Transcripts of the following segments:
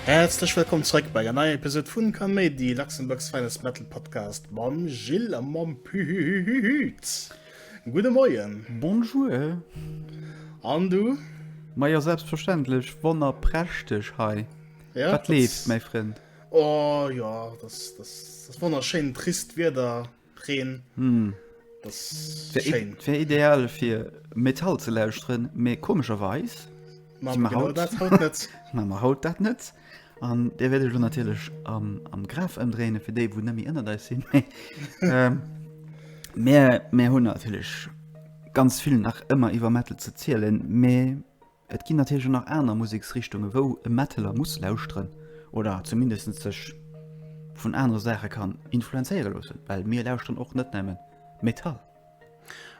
Häerzlech wëllkomm zréck bei der neier Episode vun Kaméidi, Luxembourg's Finest Metal Podcast mam Gilles a mam Pühühühühüt. Gudde Moien. Bonjour. An du? Ma jo, selbstverständlech, wonnerprächteg hei. Ja, Wat leeft, mäi Frënd? Oh jo, dat wonnerschéint trist Wieder, Reen. Hm. Wär ideal fir Metall ze lauschteren, mee komescherweis hu mer haut dat haut net. Hu mer haut dat net. An dee wäert ech elo natierlech am Graf ëmdréine fir déi, wou net méi ënnert eis sinn. Mä mir hunn natierlech ganz vill nach ëmmer iwwer Metal ze zielen, mee. Et ginn natierlech och nach aner Museksrichtunge wou e Metaller muss lauschteren oder zumindest sech vun anere Saache kann influenzéiere loossen, well mir lauschteren och net nämme Metall.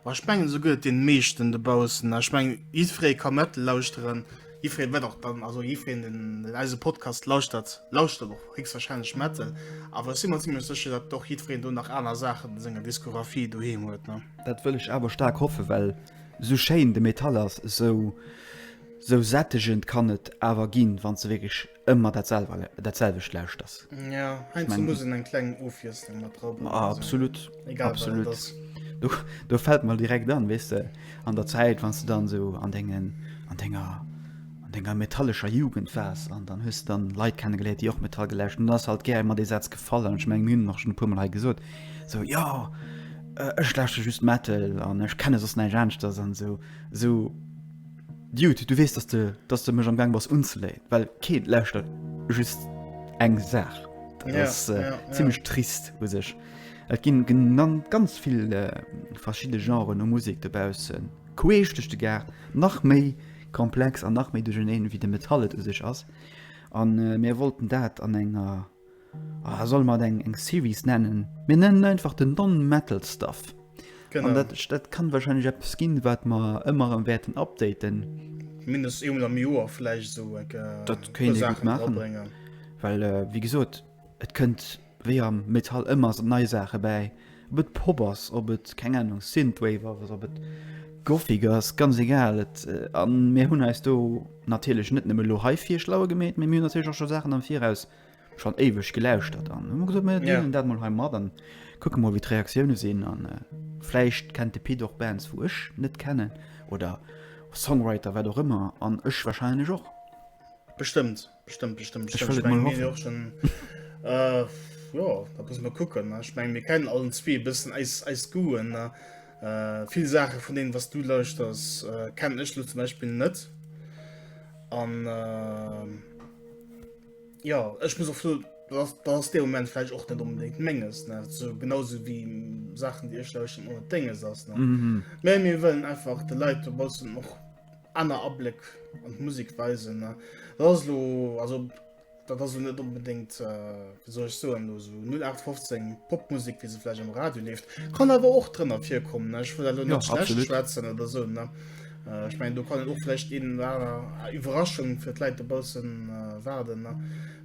A ech mengen esou gëtt et deene meeschten dobaussen. A ech mengen jiddweree ka Metal lauschteren, jiddwereen wat och dann, also jiddwereen deen eise Podcast lauschtert, lauschtert och héchstwahrscheinlech Metal. Awer ech si mer zimmlech sécher dat och jiddwereen do nach aner Saachen a senger Diskographie doheem huet, ne? Dat wëll ech awer staark hoffen, well Sou schéin de Metall ass, sou sou sättegend kann et awer ginn, wann s de wierklech ëmmer dat selwer dat selwecht lauschters. Jo, heiansdo muss een eng kleng Ofwiesslung mat dra bréngen. Absolut, absolut. Do do fält mer direkt an, weess de, an der Zäit, wann s de dann esou an dengen an denger an denger metallescher Jugend waars an dann hues de dann Leit kennegeléiert, déi och Metall gelauscht hunn, dann ass halt gär emmer dee Saz gefall an ech mengen, mir hunn en och schonn e puermol hei gesot, sou, Jo! Ech lauschteren just Metal an ech kenne soss näischt aaneschters an esou esou Dude, du wees dass de dass de mech am gang bass unzeléien, well keen lauschtert just eng Saach. Dat Ja, ass ja, ja. zimmlech trist u sech. Et ginn genan ganz vill verschidde Genren u Musek dobaussen, queesch duerch de Gaart, nach méi komplex an nach méi duercherneen wéi de Metal et u sech ass an mir wollten dat an enger Ah, solle mer et eng, eng Series nennen? Mir nennen et einfach den Non-Metal Stuff. An Genau. dat, dat kann wahrscheinlech eppes ginn, wat mer ëmmer erëm wäerten updaten, Mindestens eemol am Joer vläicht sou eng äh, Dat puer kéint ee gut Saachen maachen. dranbréngen. well äh, wéi gesot, et kënnt wéi am Metall ëmmer s- nei Saache bäi. Ob et Pop ass, ob et, keng Ahnung, Synthwave ass, ob et Gothic ass, ganz egal. Et, a mir hunn eis do natierlech net nëmme elo hei fir schlauer gemeet, mee mir hunn natierlech och scho Saachen am Viraus schonn éiweg gelauschtert an hu mer gesot, mir deelen dat mol hei mat an kucke mol, wéi d'Reaktioune sinn. An vläicht kennt de Pit och Bands, wou ech net kennen oder Songwriter, wat och ëmmer, an ech warscheinlech och. Bestëmmt. Bestimmt, bestimmt, bestimmt. Ich will ich mein, mal hoffen. Auch schon, äh, ja, da muss man gucken. Ne? Ich meine, wir kennen allen zwei ein bisschen Eis, Eis Guen. Ne? Äh, viele Sachen von denen, was du leuchtest, äh, kenne ich zum Beispiel nicht. Und, äh, ja, ich muss auch so, dass, dass der Moment vielleicht auch nicht unbedingt Menges. Ne? So, genauso wie Sachen, die ich leuchten, ohne Dinge. Ne? Mhm. Mehr, wir wollen einfach die Leute ein bisschen auch Aner Abléck an d'Musek weisen, ne? Dat ass elo, also dat ass elo net onbedéngt, wéi soll ech soen, elo esou 0815 Popmusek, wéi se vläicht am Radio leeft. Kann awer och drënner virkommen, ne? Ech wëll dat elo net schlecht schwätzen oder esou, ne? Ech mengen, do kann een och vläicht een oder aner Iwwerraschung fir d'Leit dobausse waarden, ne?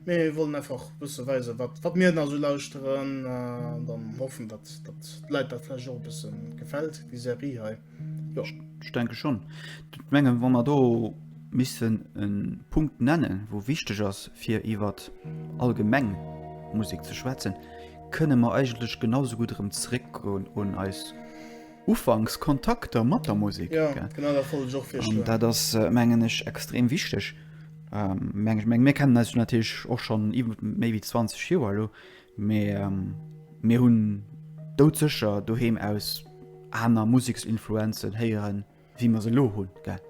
Mee mir wollen einfach e bësse weisen, wat, wat mir nach esou lauschteren. An dann hoffen, datt, datt d'Leit dat vläicht och e bësse gefält, déi Serie hei. Jo, ech denke schonn. Et mengen, wa mer do missen e Punkt nennen, wou wichteg ass, fir iwwer allgemeng Musek ze schwätzen, kënne mer eigentlech genau esou gutt erëm zeréckgoen un eis ufanks Kontakter mat der Musek. Jo, genau dat wollt ech och virschloen. An dat ass, mengen ech, extrem wichteg. Mir kennen eis jo natierlech och schonn iwwer méi wéi 20 Joer elo, Mee mir hunn doudsécher doheem aus aner Museksinfluenzen héieren, wéi mer se elo hunn, gell?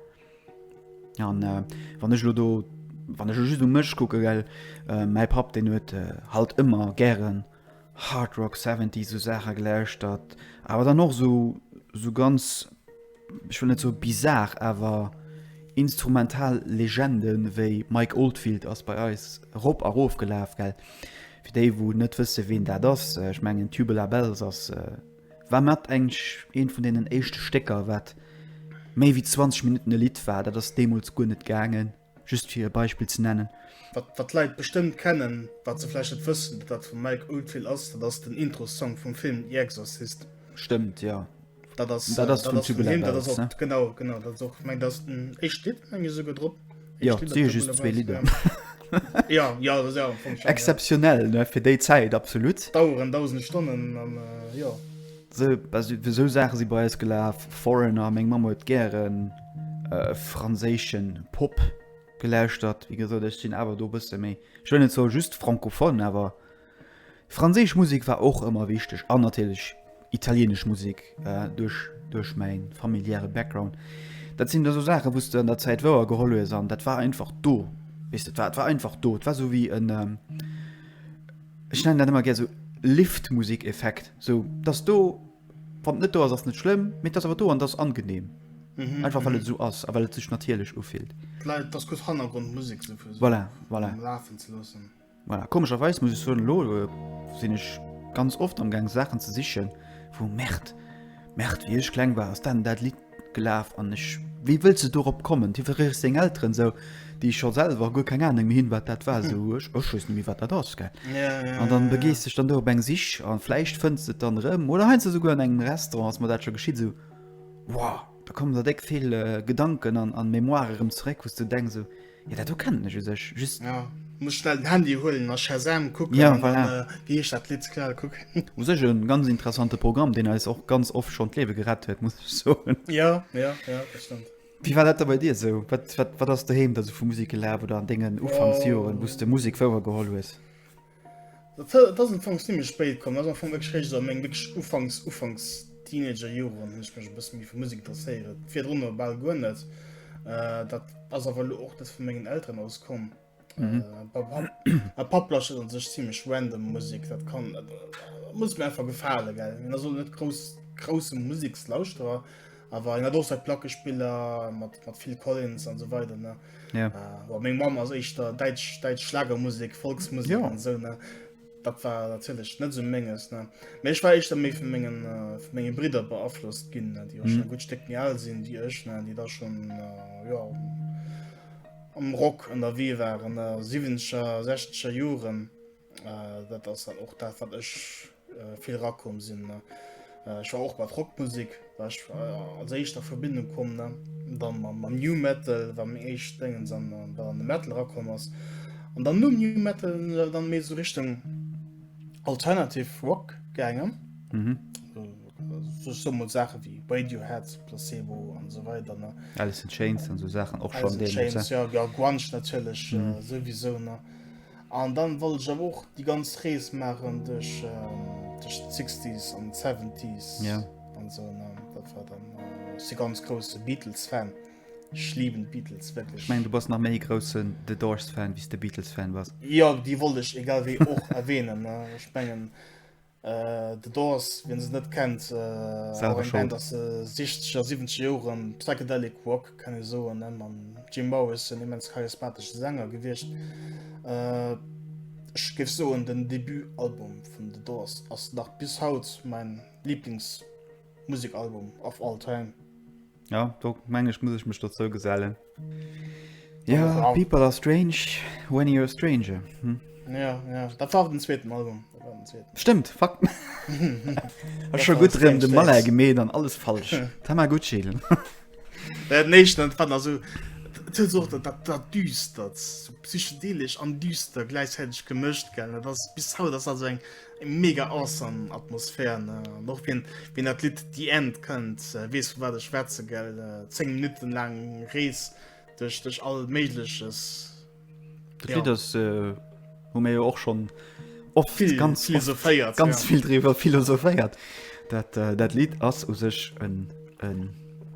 An wann ech elo do, wann ech elo just u mech kucken, gell, mäi Papp, deen huet halt ëmmer gären Hard Rock, Seventies, esou Saache gelauschtert, awer dann och esou, esou ganz ech wëll net soe bizar, awer instrumental Legende wéi Mike Oldfield ass bei eis rop a rof gelaf. Well fir déi, wou net wësse ween dat ass, äh, ech mengen Tubular Bells ass äh, war mat eng eent vun deenen éischte Stécker, wat méi wéi 20 Minutten e Lidd war. Dat ass deemools guer net gaangen. Just fir e Beispill ze nennen. Wat d'Leit bestëmmt kennen, wat se vläicht net wëssen, dat dat vum Mike Oldfield ass, dat ass den Intro-Song vum Film The Exorcist. Stëmmt, jo. Dat ass vun him, dat ass och, genau, genau, dat ass och, meng, dat ass den éischt Lidd, meng ech esouguer, drop. Jo, et si jo just zwee Lidder. Jo, jo, dat ass jo am Fong schonn. Exzeptionell, ne, fir déi Zäit, absolut. Daueren dausende Stonnen an, jo. Esou Saache si bei eis gelaf, Foreigner, meng Mamm huet gären franséische Pop gelauschtert. Wéi gesot, ech sinn awer do e bësse méi, ech wëll net soe just francophone, awer franséisch Musek war och ëmmer wichteg an natierlech italienesch Musek duerch mäi familiäre Background. Dat sinn da sou Saache wou s de an der Zäit wouer geholl hues an dat war einfach do, weess de. Dat war einfach do, dat war esou wéi en, ech nennen dat ëmmer gär sou Liftmusik-Effekt, sou dass do, wann et net do ass, ass net schlëmm, mee et ass awer do an et ass angenehm. Mhm, Einfach well et esou ass a well et sech natierlech ufillt. D'Leit, dass gutt Hannergrondmusek sou fir Voilà, voilà. am Lafen ze loossen. Voilà. Komescherweis muss ech soen, elo sinn ech ganz oft am Gaang Saachen ze sichen, wou, Merde, Merde, wéi ech kleng war, ass dat an dat Lidd Gelaf an ech, wéi wëlls de dorop kommen? Hie verréicht seng Elteren esou, déi scho selwer guer keng Anung méi hunn, wat dat war. Esou, ech, ech weess net méi, wat dat ass, gell? An dann begees dech dann do op eng Sich a vläicht fënns de et dann erëm. Oder heiansdo esouguer an engem Restaurant ass mer dat scho geschitt. Esou, wow, da kommen der déck vill Gedanken an, an Mémoire erëm zeréck, wou s de denks esou, Ja, dat do kennen ech u sech just. Ja, muss schnell den Handy huelen a Shazam kucken. Ja, voilà. An, äh, wéi heescht dat Lidd? Klar, kuck. U sech e ganz interessante Programm, deen eis och ganz oft schonn d'Liewe gerett huet, muss ech soen. Ja, ja, ja, dat stëmmt. Wéi war dat da bei dir esou? Wat, wat, wat ass doheem da sou vu Musek gelaf oder an dengen Ufanksjoren, wou s de Musek wouergeholl hues? Dat ass am Fong zimmlech spéit komm, dat ass am Fong wierklech eréischt esou a meng wierklech ufanks, ufanks Teenager-Joren hunn ech mech e bësse méi fir Musek interesséiert, virdrunner bal guer net. Dat ass awer elo och net vu mengen Elteren aus komm. Mäi Papp lauschtert an sech zimmlech random Musek, dat kann, muss mir einfach gefalen, gell. Hien ass elo net grouss, grousse Musekslauschterer. Awer en hat och seit Plackespiller mat mat Phil Collins an so weide ne. Ja. Äh, meng Mam ass eich der Deitsch Deitsch Schlagermusik, Volksmusik ja. an so ne. Dat war datlech net so menges ne. Mech war eich der méi vu mengen äh, vu mengen Brider beaflosst ginn, Di och mhm. schon gut Steck mir all sinn wie ech ne, Di da schon äh, ja, am Rock an der Wee waren der 7scher 16scher Joren. Äh, dat ass halt och dat wat ech äh, vill rakom sinn ne äh, ech war och mat Rockmusik warch äh, als éischter Verbindung kom ne dann man man new metal war mir eich dengen an äh, war an de metal rakom ass an dann nun new metal äh, dann mé so richtung alternative rock gängen mhm. so, so mod sache wie bei you hat placebo an so weiter ne alles chains an so sachen och schon den ja, ja, natürlich äh, mhm. äh, sowieso ne An dann wollt ech awer och déi ganz Rees maachen duerch duerch d'Sixties an d'Seventies. Ja. An esou en an dat war dann ech si ganz grousse Beatles Fan. Ech liiben d'Beatles wierklech. Ech mengen du bass nach méi e groussen The Doors Fan wéi s de Beatles Fan bass. Jo, déi wollt ech egal wéi och erwähnen ne. Ech mengen Äh, The Doors, wien se net kennt, äh, Selwer eng Band aus äh, 60er, 70 Joren, Psychedelic Rock kann e soen. Ne? Man Jim Morris en immens charismatesche Sänger gewicht. Äh, ech géif soen den Debutalbum vun The Doors ass nach bis haut mein Lieblingsmusikalbum of all time. Jo, do meng ech muss ech mech dozou gesellen. Jo, people are strange when you're a stranger. Jo, jo, dat war den zweeten Album. Stëmmt, fuck. Ech scho gutt rëm de Malheur gemeet an alles falsch. Tamagotchi. Dat éischt an d'Fan ass esou och dat dat dat Düstert, psychedelesch an düster gläichzäiteg gemëscht, gell? Dat ass bis haut ass dat esou eng. Mega awesome Atmosphär, ne? An och wien, wien dat Lidd The End kënnt, äh, weess vu wat ech schwätze gell. Äh, 10 Minutten laang Rees duerch, duerch all méigleches. Dat ja. Lied ass äh, hu mir jo och schon oft viel, ganz philosophéiert ganz ja. viel driwer philosophéiert. Dat, äh, dat Lied ass u sech en, en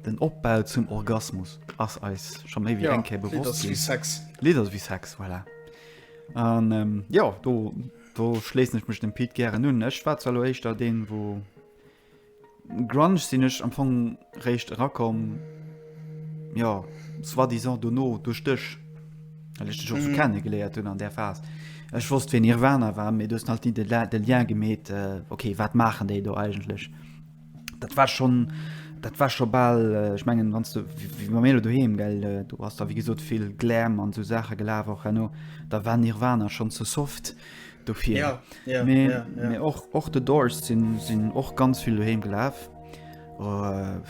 den Opbau zum Orgasmus ass eis schon méi wie ja, enke bewusst Lied ass wie Sex. Lied ass wie Sex, voilà. An ähm, ja do. Do schléissen ech mech dem Pit gären un. Ech war zwar lo éischter deen wou Grunge sinn ech am Fong réischt erakomm jo soi-disant dono duerch dech well ech dech och sou mhm. kenne geléiert hunn an där Phas. Ech wosst wéi Nirvana war, mee du hues halt ni de Lien gemeet, äh, okay wat maachen déi do eigentlech? dat war schon dat war schon ball äh, ich mengen wann du wie man melo doheem gell äh, du hast da wie gesot viel glam an so sache gelaf auch hanno da war nirwana schon zu soft dofir ja, ja, me, ja, ja. me och och de doors sinn sinn och ganz viel doheem gelaf uh,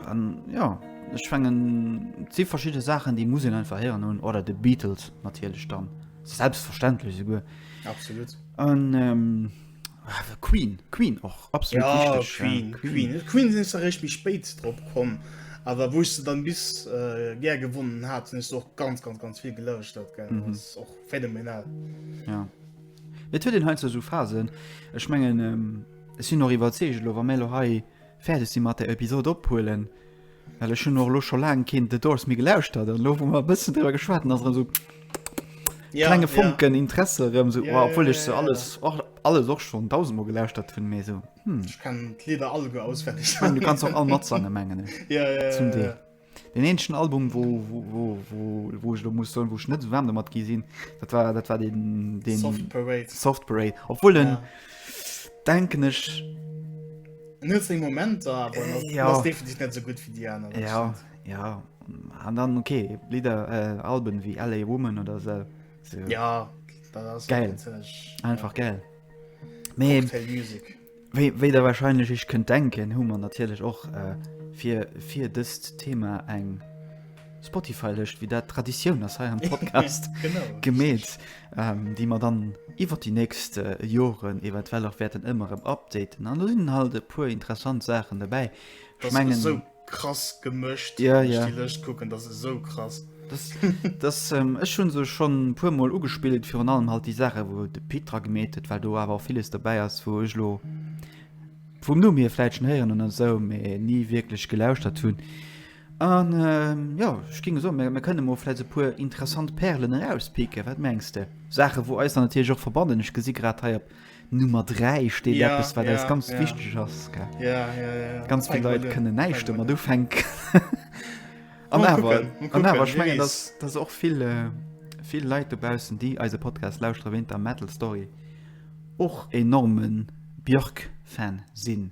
an ja ich fangen zi verschiedene sachen die muss ein verheeren hun oder de beatles natürlich dann selbstverständlich so gut absolut an ähm, Ah, Queen Queen och absolut ja, Queen, ja. Queen. Queen sinn ze recht mi spéit drop kom awer wou se dann bis äh, ger gewonnen hat sinn och ganz ganz ganz viel gelëscht dat ge mhm. och phänomenal ja. Et huet den he so Phasen Ech menggen ähm, sinn noch iwwer Zelo war Melo hei fäerdeg si mat der Episode ophuelen. Well ech hunn och elo scho laang keen The Doors méi gelauschtert an elo wou mer e bëssen driwwer geschwat hunn, ass erëm esou klenge ja. Funken Interesse erëm esou, Ja, oh, obwuel ja, ech se ja, ja. alles och alles och schonn dausendmol gelauschtert hunn, mee esou, hm. Ech kennen d'Lieder all guer auswenneg. Ich mein, du kannst och all matsange mengen ech. Ja, ja, ja, Zum Deel. ja. Den eenzegen Album wou wou wou wou wou ech lo muss soen, wou ech net esou waarm domat gi sinn, dat war dat war den den Soft Parade. Soft Parade, obwuel den Ja. denken ech Momenter net so gut fir Di an. Ja ja an dann okay Lider äh, Alben wie LA Woman oder se so. Ja geil einfach geil. Mee, wéi, wéi der wahrscheinlich ich könnt denken hu man natürlich och äh, fir fir dëst Thema eng Spotify lecht wie dat Traditioun ass hei am Podcast gemet, ähm, déi mer dann iwwer die nächst äh, Joren eventuell och werden ëmmer em updaten. An sinn halt e puer interessant Sachen dabei. Ich mengen, so krass gemëcht ja, ja. lecht kucken, dat se so krass. Das, das ähm, ech hun se schon puer Mol ugespielt fir an allem halt die Sache wo de Petra gemet huet, weil du awer vieles dabei ass wo ech lo vum Nu mir fleitschen heieren an so, mé nie wirklich gelauscht dat hunn. An jo, ech géing soen, mir kënne mol vläicht esou e puer interessant Pärelen erauspicken, wat mengs de? Saachen, wou eis dann natierlech och verbannen. Ech gesi grad hei op Nummer 3 steet eppes, wat eis ganz wichteg ass. Ganz vill Leit kënnen näischt domat ufänken. An awer, an awer, ech mengen, dass dass och vill vill Leit dobaussen, déi eise Podcast lauschteren, wéint der Metal Story och enorme Björk-Fan sinn.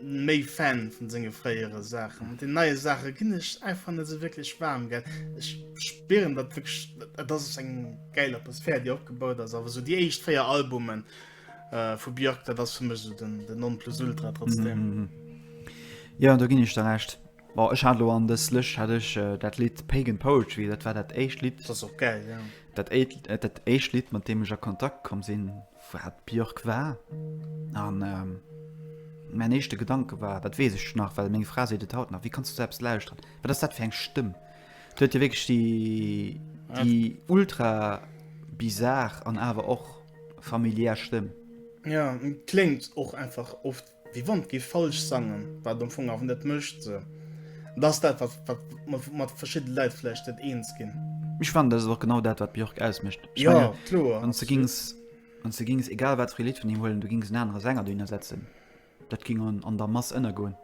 méi Fan vun senge fréiere Saachen. Mat den neie Saache ginn ech einfach net esou wierklech waarm gell. Ech spieren dat wëg dat ass eng geil Atmosphär Dir opgebaut ass, awer sou Dir éischt véier Albumen äh, vu Björk, dat ass fir mech so den den non plus ultra trotzdem. Mm -hmm. Ja da ginn ech der recht. Bon, ech hat lo an dës Lëscht hat ech äh, dat Lied Pagan Poetry, dat war dat éischt Lied. Dat ass och geil, ja. Dat éischt Lied, mat deem ech a Kontakt komm sinn, Wat d'Björk war. An mäin éischte Gedanke war, dat weess ech nach, well meng Fra seet et haut nach, Wéi kanns du esou eppes lauschteren? Wat ass dat fir eng Stëmm? Déi huet jo wierklech déi ultra bizar an awer och familiär Stëmm. Ja, kléngt och einfach oft. Déi Wand géif falsch sangen, wat am Fong awer net mécht, sou dass dat, wat mer mat verschidde Leit vläicht net eens ginn. Ech fannen, dat ass och genau dat, wat Björk ausmécht. Ech menge, wann s de géings, wann s de géings egal wat fir ee Lidd vun him huelen, du géings en anere Sänger dohinner setzen, dat géing an, an der Mass ënnergoen.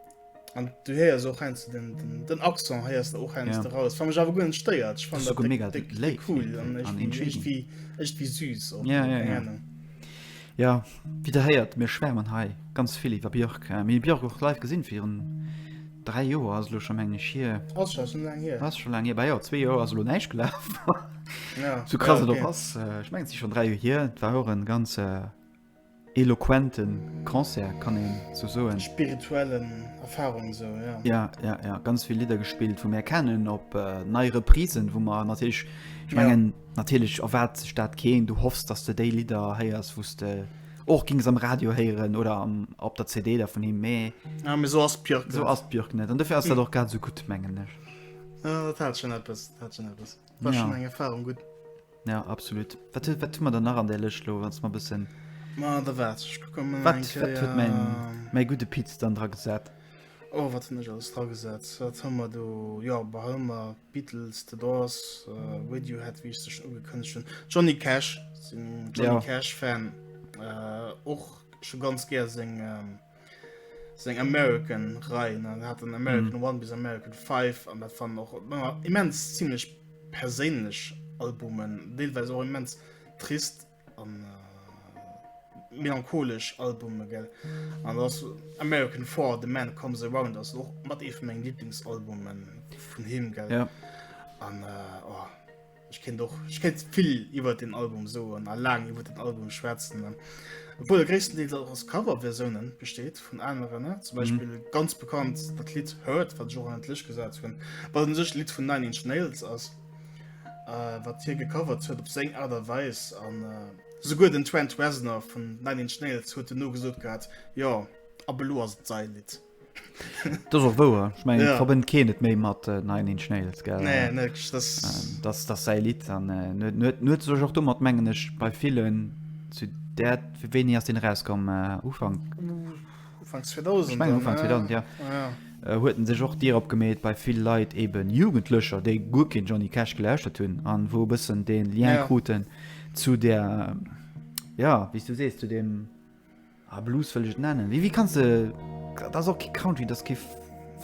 An du héiers och heiansdo den, den Accent héiers de och heiansdo eraus, wat mech awer guer net stéiert. Ech fannen dat déck, déck cool an iergendwéi, iergendwéi süß och, keng Ahnung. Jo, wéi der héiert, mir schwärmen hei ganz vill iwwer Björk. Mir hu Björk och live gesinn, virun 3 Joer ass et elo scho meng ech hier. Ass scho esou laang hier? Ass scho laang hier, bah jo, zwee Joer ass elo näischt gelaf. Esou krass et och ass, ech mengen et si schonn 3 Joer hier. Et war och e ganz eloquente Concert, kann een esou soen. Spirituellen Erfarung esou, jo. Jo, jo, jo, ganz vill Lidder gespillt, wou mir kennen, op nei Reprisen, wou mer natierlech, ech mengen. Natierlech erwaart sech dat keen. Du hoffs, dass de déi Lidder héiers, wou s de och gings am Radio héieren oder op der CD dervun him. Mee esou ass d'Björk net. An dofir ass dat och grad esou gutt, mengen ech. Dat hat schonn eppes. War schonn eng Erfarung. Gutt. Jo, absolut. Wat hu mer dann nach an där Lëscht elo, wann s de mer e bëssen. Ma da waart, ech kucke mol eng Kéier. Wat huet mäi gudde Pit dann dragesat? Oh, wat hunn ech alles dragesat? Wat hu mer do? Jo, behal mer. Beatles, The Doors, uh, Radiohead, wie ich sech ugekënnecht hun. Johnny Cash, sinn Johnny ja. Cash Fan äh, och äh, schon ganz ger seg ähm, seg American rein an hat den American mm. One bis American 5 an dat fan noch immens ziemlich perélech Albumen, deelweis auch immens trist An äh, melancholesch Albume gell. An ass American Four, The Man Comes Around ass och mat ee vun mengem Lieblingsalbumen vun him gell. Ja. An äh, oh, ich kennt doch ich kennt viel über den Album so an lang über den Album schwärzen dann obwohl der größten Deal auch aus Coverversionen besteht von anderen ne? zum mhm. Beispiel mhm. ganz bekannt das Lied hört von Johann Lisch gesagt von weil sich Lied von Nine Inch Nails aus äh, wat hie gecovert huet op seng Art a Weis an äh, souguer den Trent Reznor vun Nine Inch Nails huet den nogesot gehat, jo, ab elo ass et säi Lidd. Dat ass och wouer. Ech mengen, et Ja. verbënnt keen et méi mat äh, Nine Inch Nails, gell? Nee, nee, das, Ähm, das das säi Lied an äh, net net net sech och domat mengen ech bei villen zu der wéini ass den rauskomm äh, Ufang Ufank 2000 dann, ja. Ech mengen Ufank 2000, ja. Ja. Huet en sech och dirop gemeet, bei vill Leit, eben Jugendlecher, déi guer keen Johnny Cash gelauschtert hunn an wou e bëssen dee Lien ja. kruten zu der, ja, wéi s du sees, zu dem ah, Blues wëll ech nennen. Wie, wie kannst du. Dat ass och ke Country, dat ke.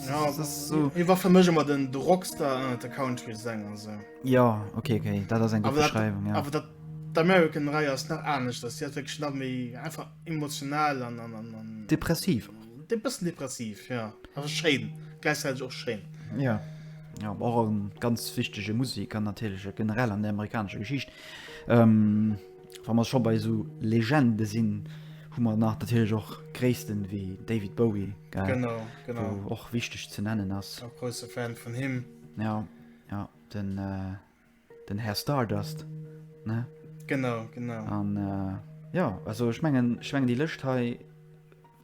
Ja, so. war fir mech mat den Drockstar an äh, de Country Sänger se. Ja okay, okay. dat ass eng Beschreiung. Ja. Awer dat d'American Rei ass nach anecht, dat si wéch nach méi einfach Emotional an, an, an, an depressiv. De bëssen depressiv ja. Also schéin gleichzeitig och schéin. Ja. Ja, och en ganz wichtege Musik an natierleche generell an der amerikanischer Geschicht. Ähm, Wa man scho bei so Legende sinn, hu man nach dathilech och Gréissten wéi David Bowie gell? Genau, genau. Wo och wichteg ze nennen ass. Auch große Fan von him. Ja, ja, den äh, Den Här Stardust, ne? Genau, genau. An, äh, jo, also ech mengen, ech mengen déi Lëscht hei,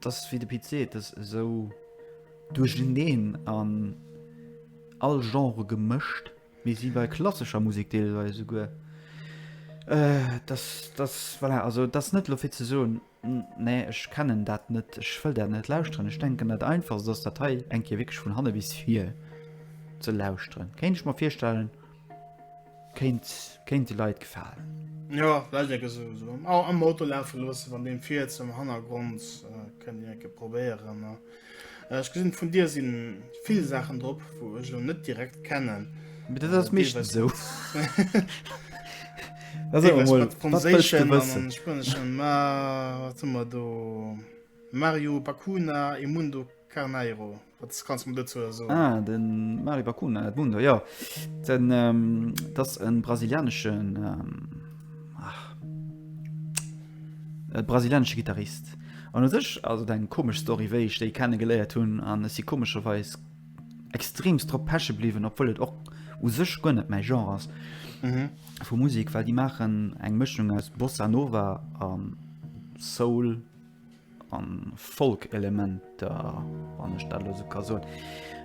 dass, wéi de Pit seet, dass esou duercherneen an all Genre gemëscht, wéi si bei klassescher Musek deelweis esouguer, äh, dass, dass, voilà, also dass net elo fir ze soen, Nee, ech kennen dat net. Ech wëll dat net lauschteren. Ech denken dat einfachst ass dat hei eng Kéier wierklech vun hanne bis vir ze lauschteren. Kéint ech mer virstellen, kéint kéint de Leit gefalen. Jo, vläicht enke sou am Auto lafe loossen, wann deen viirt am Hannergrond, kënnt een enke probéieren. Ech gesinn vun dir sinn vill Saachen drop, wou ech lo net direkt kennen. Mee dat ass meeschtens esou. Also Deelweis emol, mat wat wëlls du Franséischen an wëssen? an Spueneschen. Ma wat hu mer do? Mario Bacuna e Mundo Carneiro. Wat kanns du mer dozou soen? Ah, den Mario Bacuna, Edmundo, jo. Den, ähm, dat ass en brasilianeschen, ähm. E brasilianesche Gittarist. An u sech ass et eng komesch Story, wéi ech déi kenne geléiert hunn. An ech si komescherweis extremst drop peche bliwwen, obwuel et och u sech guer net mäi Genre ass vu Musek, well déi maachen eng Mëschung aus Bossa Nova a Soul, an Folk-Elementer, wann ech dat elo esou ka soen.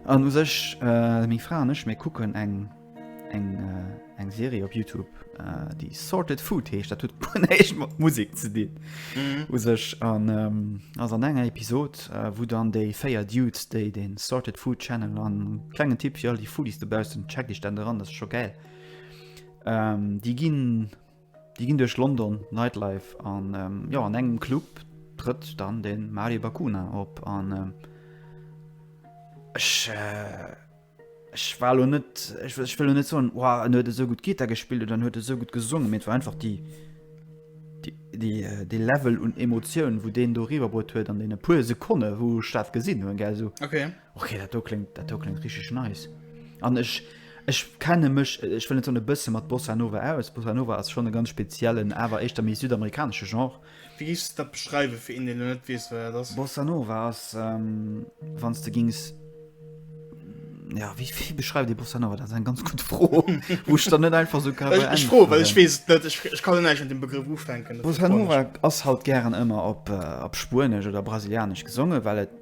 An u sech, äh, meng Fra an ech, mir kucken eng, eng, äh, eng Serie op Youtube, äh, déi Sorted Food heescht, dat huet guer näischt mat Musek ze dinn, u sech. An, ähm, ass an enger Episod, äh, wou dann déi véier Dudes, déi de Sorted Food Channel, an klengen Tipp fir all déi Foodies dobaussen, checkt iech dat eran, dat ass scho gäil, ähm, déi ginn, Déi ginn duerch London Nightlife an jo an engem Club trëtt dann de Mario Bakuna op an ech äh, ech war lo net ech ech wëll net soen wow, en huet esou gut Gitter gespillt oder en huet esou gut gesongen, mee et war einfach déi déi äh, dee Level un Emotioun, wou deen do eriwwerbruet huet an deene puer Sekonne wou ech dat gesinn hunn, gell, esou. Okay. Okay, dat do kléngt, dat do kléngt richtig nice. An ech, ech kenne mech, ech wëll net soen e bësse mat Bossa Nova aus. Bossa Nova ass schonn e ganz speziellen, awer éischter méi südamerikanesche Genre. Wéi géifs de dat beschreiwen, fir een, deen elo net weess, wat dat ass? Bossa Nova ass, wann s de géings, ja, wéi, wéi beschreift ee Bossa Nova? Dat ass eng ganz gutt Fro, wou ech der net einfach esou ka beäntweren. Ech froen, well ech weess et net. Ech, ech ka elo näischt mat deem Begrëff ufänken. Bossa Nova ass halt gären ëmmer op, op Spuenesch oder Brasilianesch gesonge well et.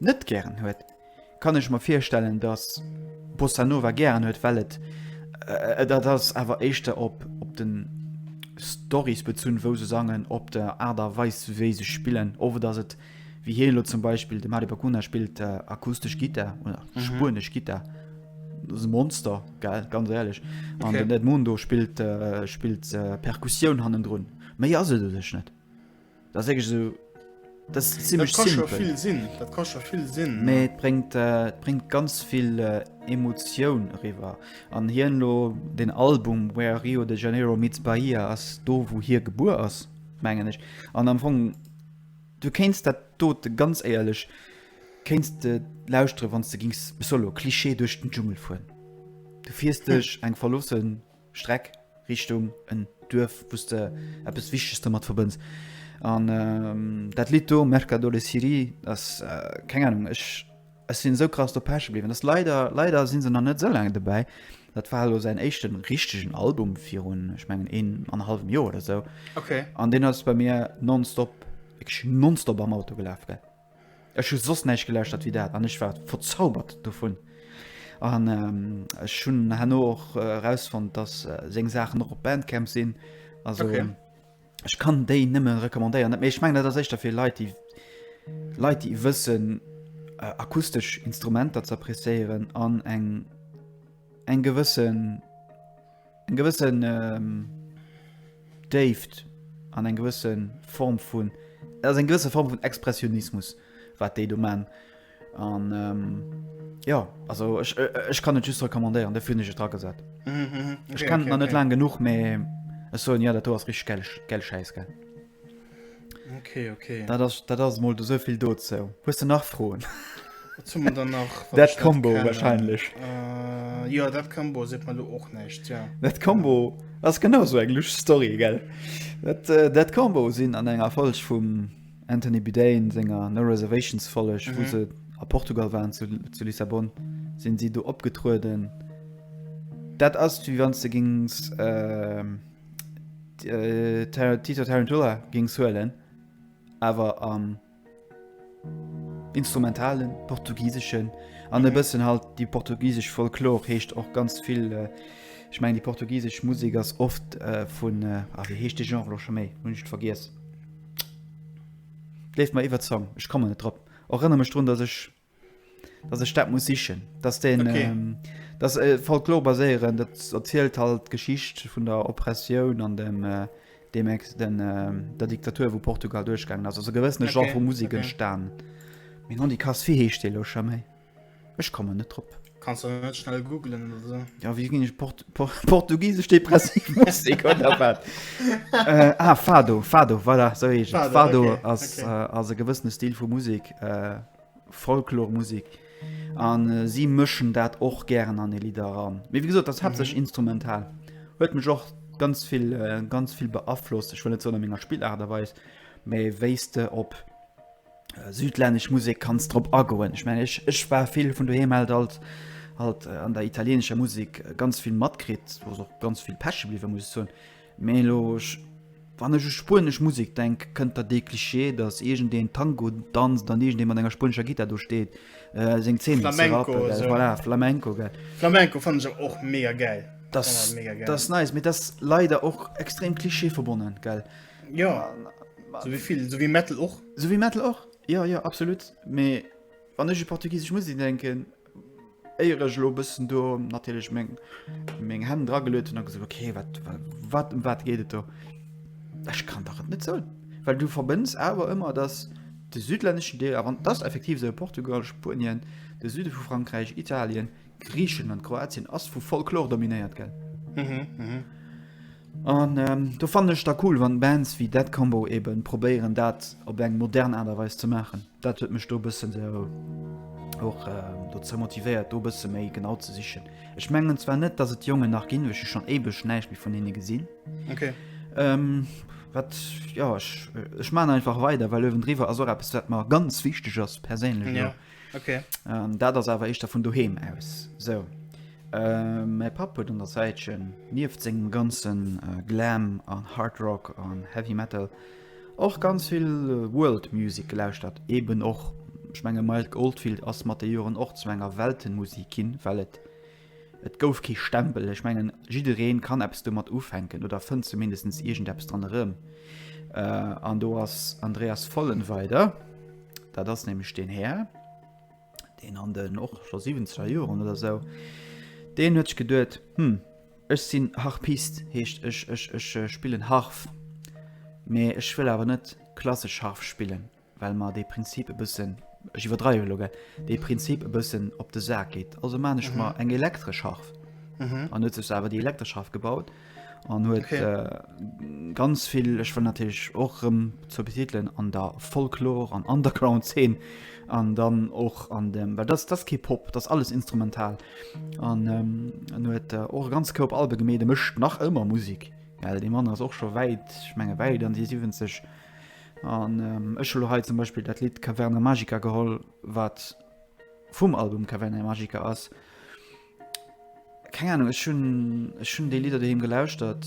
net gären huet, kann ech mer virstellen dass Bossa Nova gären huet well et dat ass awer éischter op op den Storys bezunn wou se sangen, op der Aart a Weis wéi se spillen oft ass et wéi hien elo zum Beispill de Mady Bacuna spillt akustesch Gittar oder spuenesch Gittar, dat ass e Monster gell ganz éierlech an den Edmundo spillt spillt Perkussioun hannendrun méi ass et u sech net. Dat ass wierklech esou. Dat ass zimlech simpel. Dat kann scho vill sinn. Dat kann scho vill sinn. Mee et bréngt, äh, et bréngt ganz vill äh, Emotioun eriwwer. An hien lo, den Album Where Rio de Janeiro meets Bahia ass do, wou hie gebuer ass, mengen ech. An am Fong, du kéinst dat dote ganz éierlech kéinst de lauschtere wann s de gings, solo, Klischee, duerch den Dschungel fueren. Du fiers duerch eng verloossen. Streck Richtung en Duerf, wou s de eppes Wichteges domat verbënns. An dat Lidd do, Merca dole Siri, ass, keng Anung, ech sinn esou krass drop haache bliwwen. Ass leider, leider si se nach net esou laang dobäi. Dat war elo säin éischten richtegen Album virun, ech mengen, een an e hallwem Joer oder esou. An deen ass bei mir nonstop, wierklech nonstop am Auto gelaf, gell. Ech hu soss näischt gelauschtert wéi dat an ech war verzaubert dovun. An ech hunn herno och erausfonnt, datt seng Saachen och op Bandcamp sinn. Also okay. ech kann déi nëmmen recommandéieren. Net méi ech meng dat ass éischter fir Leit, déi Leit, déi wëssen äh, akustesch Instrumenter ze appreciéieren an eng eng gewëssen Eng gewëssen ähm, Déift an eng gewëssen Form vun ass eng gewësse Form vun Expressionismus, wat déi do man. An ähm, ja also ech, äh, ech kann et just recommandéieren, de hunn ech et dragesat. Mhm, mhm. Ech Okay, kenne okay, et nach net okay. laang genuch, mee ech soen ja, dat do ass richtig geil, geil Schäiss, gell. Okay, okay. Dat ass, dat ass mol esou vill dozou. Hues du nach Froen? Wat soll man dann nach? wat Dat ich net Combo kennen? wahrscheinlech. Äh, ja, dat Combo seet man du och näischt, ja. Dat Combo ass genau sou eng lüsch Story, gell? Dat, äh, dat Combo sinn an enger Folg vum Anthony Bourdain senger No Reservations Folg, wou se a Portugal waren zu, zu Lissabon, sinn si do opgetrueden. Dat ass wéi wann s de gings, ähm, Tito Tarantula géing suelen, awer am instrumentalen, portugiseschen an e bëssen halt déi portugisesch Folklor heescht och ganz vill. Ech mengen déi portugisesch Musek ass oft vun, ah wéi heescht de Genre elo scho méi? Hunn ech et vergiess. Léift mer iwwerzong, ech kommen net drop. Erënner mech drun, datt ech dass ech dat muss sichen dass den okay. ähm, das äh, Folklor baséieren dat erzielt halt Geschicht vun der Oppressioun an dem äh, dem ex den äh, der Diktatur wo Portugal durchgang also gewëssene okay. Genre vu Musik okay. stan Min an die Kas fir heescht de lo méi Ech komme net trop Kannst du net schnell googlen so. Ja wie gin ich Port Portugisesch depressiv Musek oder wat? äh, ah, Fado, Fado, voilà, so heescht Fado, Fado okay, ass, okay. Äh, ass e gewëssene Stil vu Musik, äh, Folklormusik. An äh, si mëschen dat och gären an e Lider ran. Mee wie gesot, dat hat sech mhm. instrumental. Huet mech och ganz vill, äh, ganz vill beaflosst. Ech wëll net so an ménger Spillart derweis, méi wéiste op südlännesch Musek kanns drop agoen. Ech mengen ech war vill vun doheem alt alt halt äh, an der italienescher Musik äh, ganz vill matkritt, ass och ganz vill Päsche bliwe muss zun. Melosch wann ech u spuenesch Musik denk, kënnt der dee Klischee, datt egent deen Tango danzt an egent dee mat enger spuenescher Gitter do steet äh, seng Zeen Flamenco, so. voilà, Flamenco gell. Flamenco fan se och mega geil. Das, das nice, mit das leider och extrem Klischee verbonnen gell. Äh, Jo so wie vill so wie Metal och so wie Metal och ja ja absolut mee wann ech Portugiesisch muss ich denken Eierech lo bëssen do natilech meng meng Hänn drageluet hun a gesot okay wat wat em wat geet et do? Ech kann dach et net soen, well du verbënns awer ëmmer datt de südlänneschen Deel, a wann et ass effektiv esou, Portugal, Spuenien, de Süde vu Frankräich, Italien, Griicheland, Kroatien ass vu Folklor dominéiert gell. Mhm, mhm. An ähm, do fan ech da cool, wann Bands wie dat Combo eben probéieren dat op eng modern Aderweis ze machen. Dat huet mech do bëssen se och ähm, do ze motivéiert do bësse méi genau ze sichen. Ech mengen zwar net, dats et Jonge nach ginn wech schon ebech näicht wie vun hinne gesinn. Okay. Ähm, wat ja ech, ech man einfach weider, well ewendriwer as och appss wat mar ganz wichteg ass perséinlech. Ja. Okay. Ähm, dat ass awer éischter vun doheem aus. So. Äh, mäi Papp huet un der Säitchen, nieft sengem ganzen äh, Glam an Hard Rock an Heavy Metal, och ganz vill äh, World Music gelauschtert. Eben och, ich menge Mild Goldfield ass mat de Joren och zu enger Weltenmusik ginn, well et Et gouf kee Stempel. Ech mengen, jidderee kann eppes domat ufänken oder fënnt zumindest iergendeppes dran erëm. An do ass Andreas Vollenweider. Dat ass nämlech deen Här, deen an den och scho 70er Joren oder esou, deen huet sech geduet, Hm, ech sinn Harpist, heescht ech spillen Harf, mee ech wëll awer net klassesch Harf spillen. well mer dee Prinzip e bëssen, ech iwwerdreiwe elo, gell, dee Prinzip e bëssen op de Sak geet. Also man ech mer eng elektresch Harf. An huet sech awer déi elektresch Harf gebaut an huet Okay. äh, ganz vill, ech wëll natierlech och rëm zur betitelen, an der Folklor an Underground-Zeen an dann och an dem, well dat, dat ass kee Pop, dat ass alles instrumental. An ähm, en huet äh, och e ganz Koup Albe gemeet, e mécht nach ëmmer Musek, well dee Mann ass och scho wäit, ech menge wäit an déi 70. An ech hu lo hei zum Beispill dat Lidd Caverna Magica geholl, wat vum Album Caverna Magica ass. Keng Ahnung, ech hunn, ech hunn déi Lidder doheem gelauschtert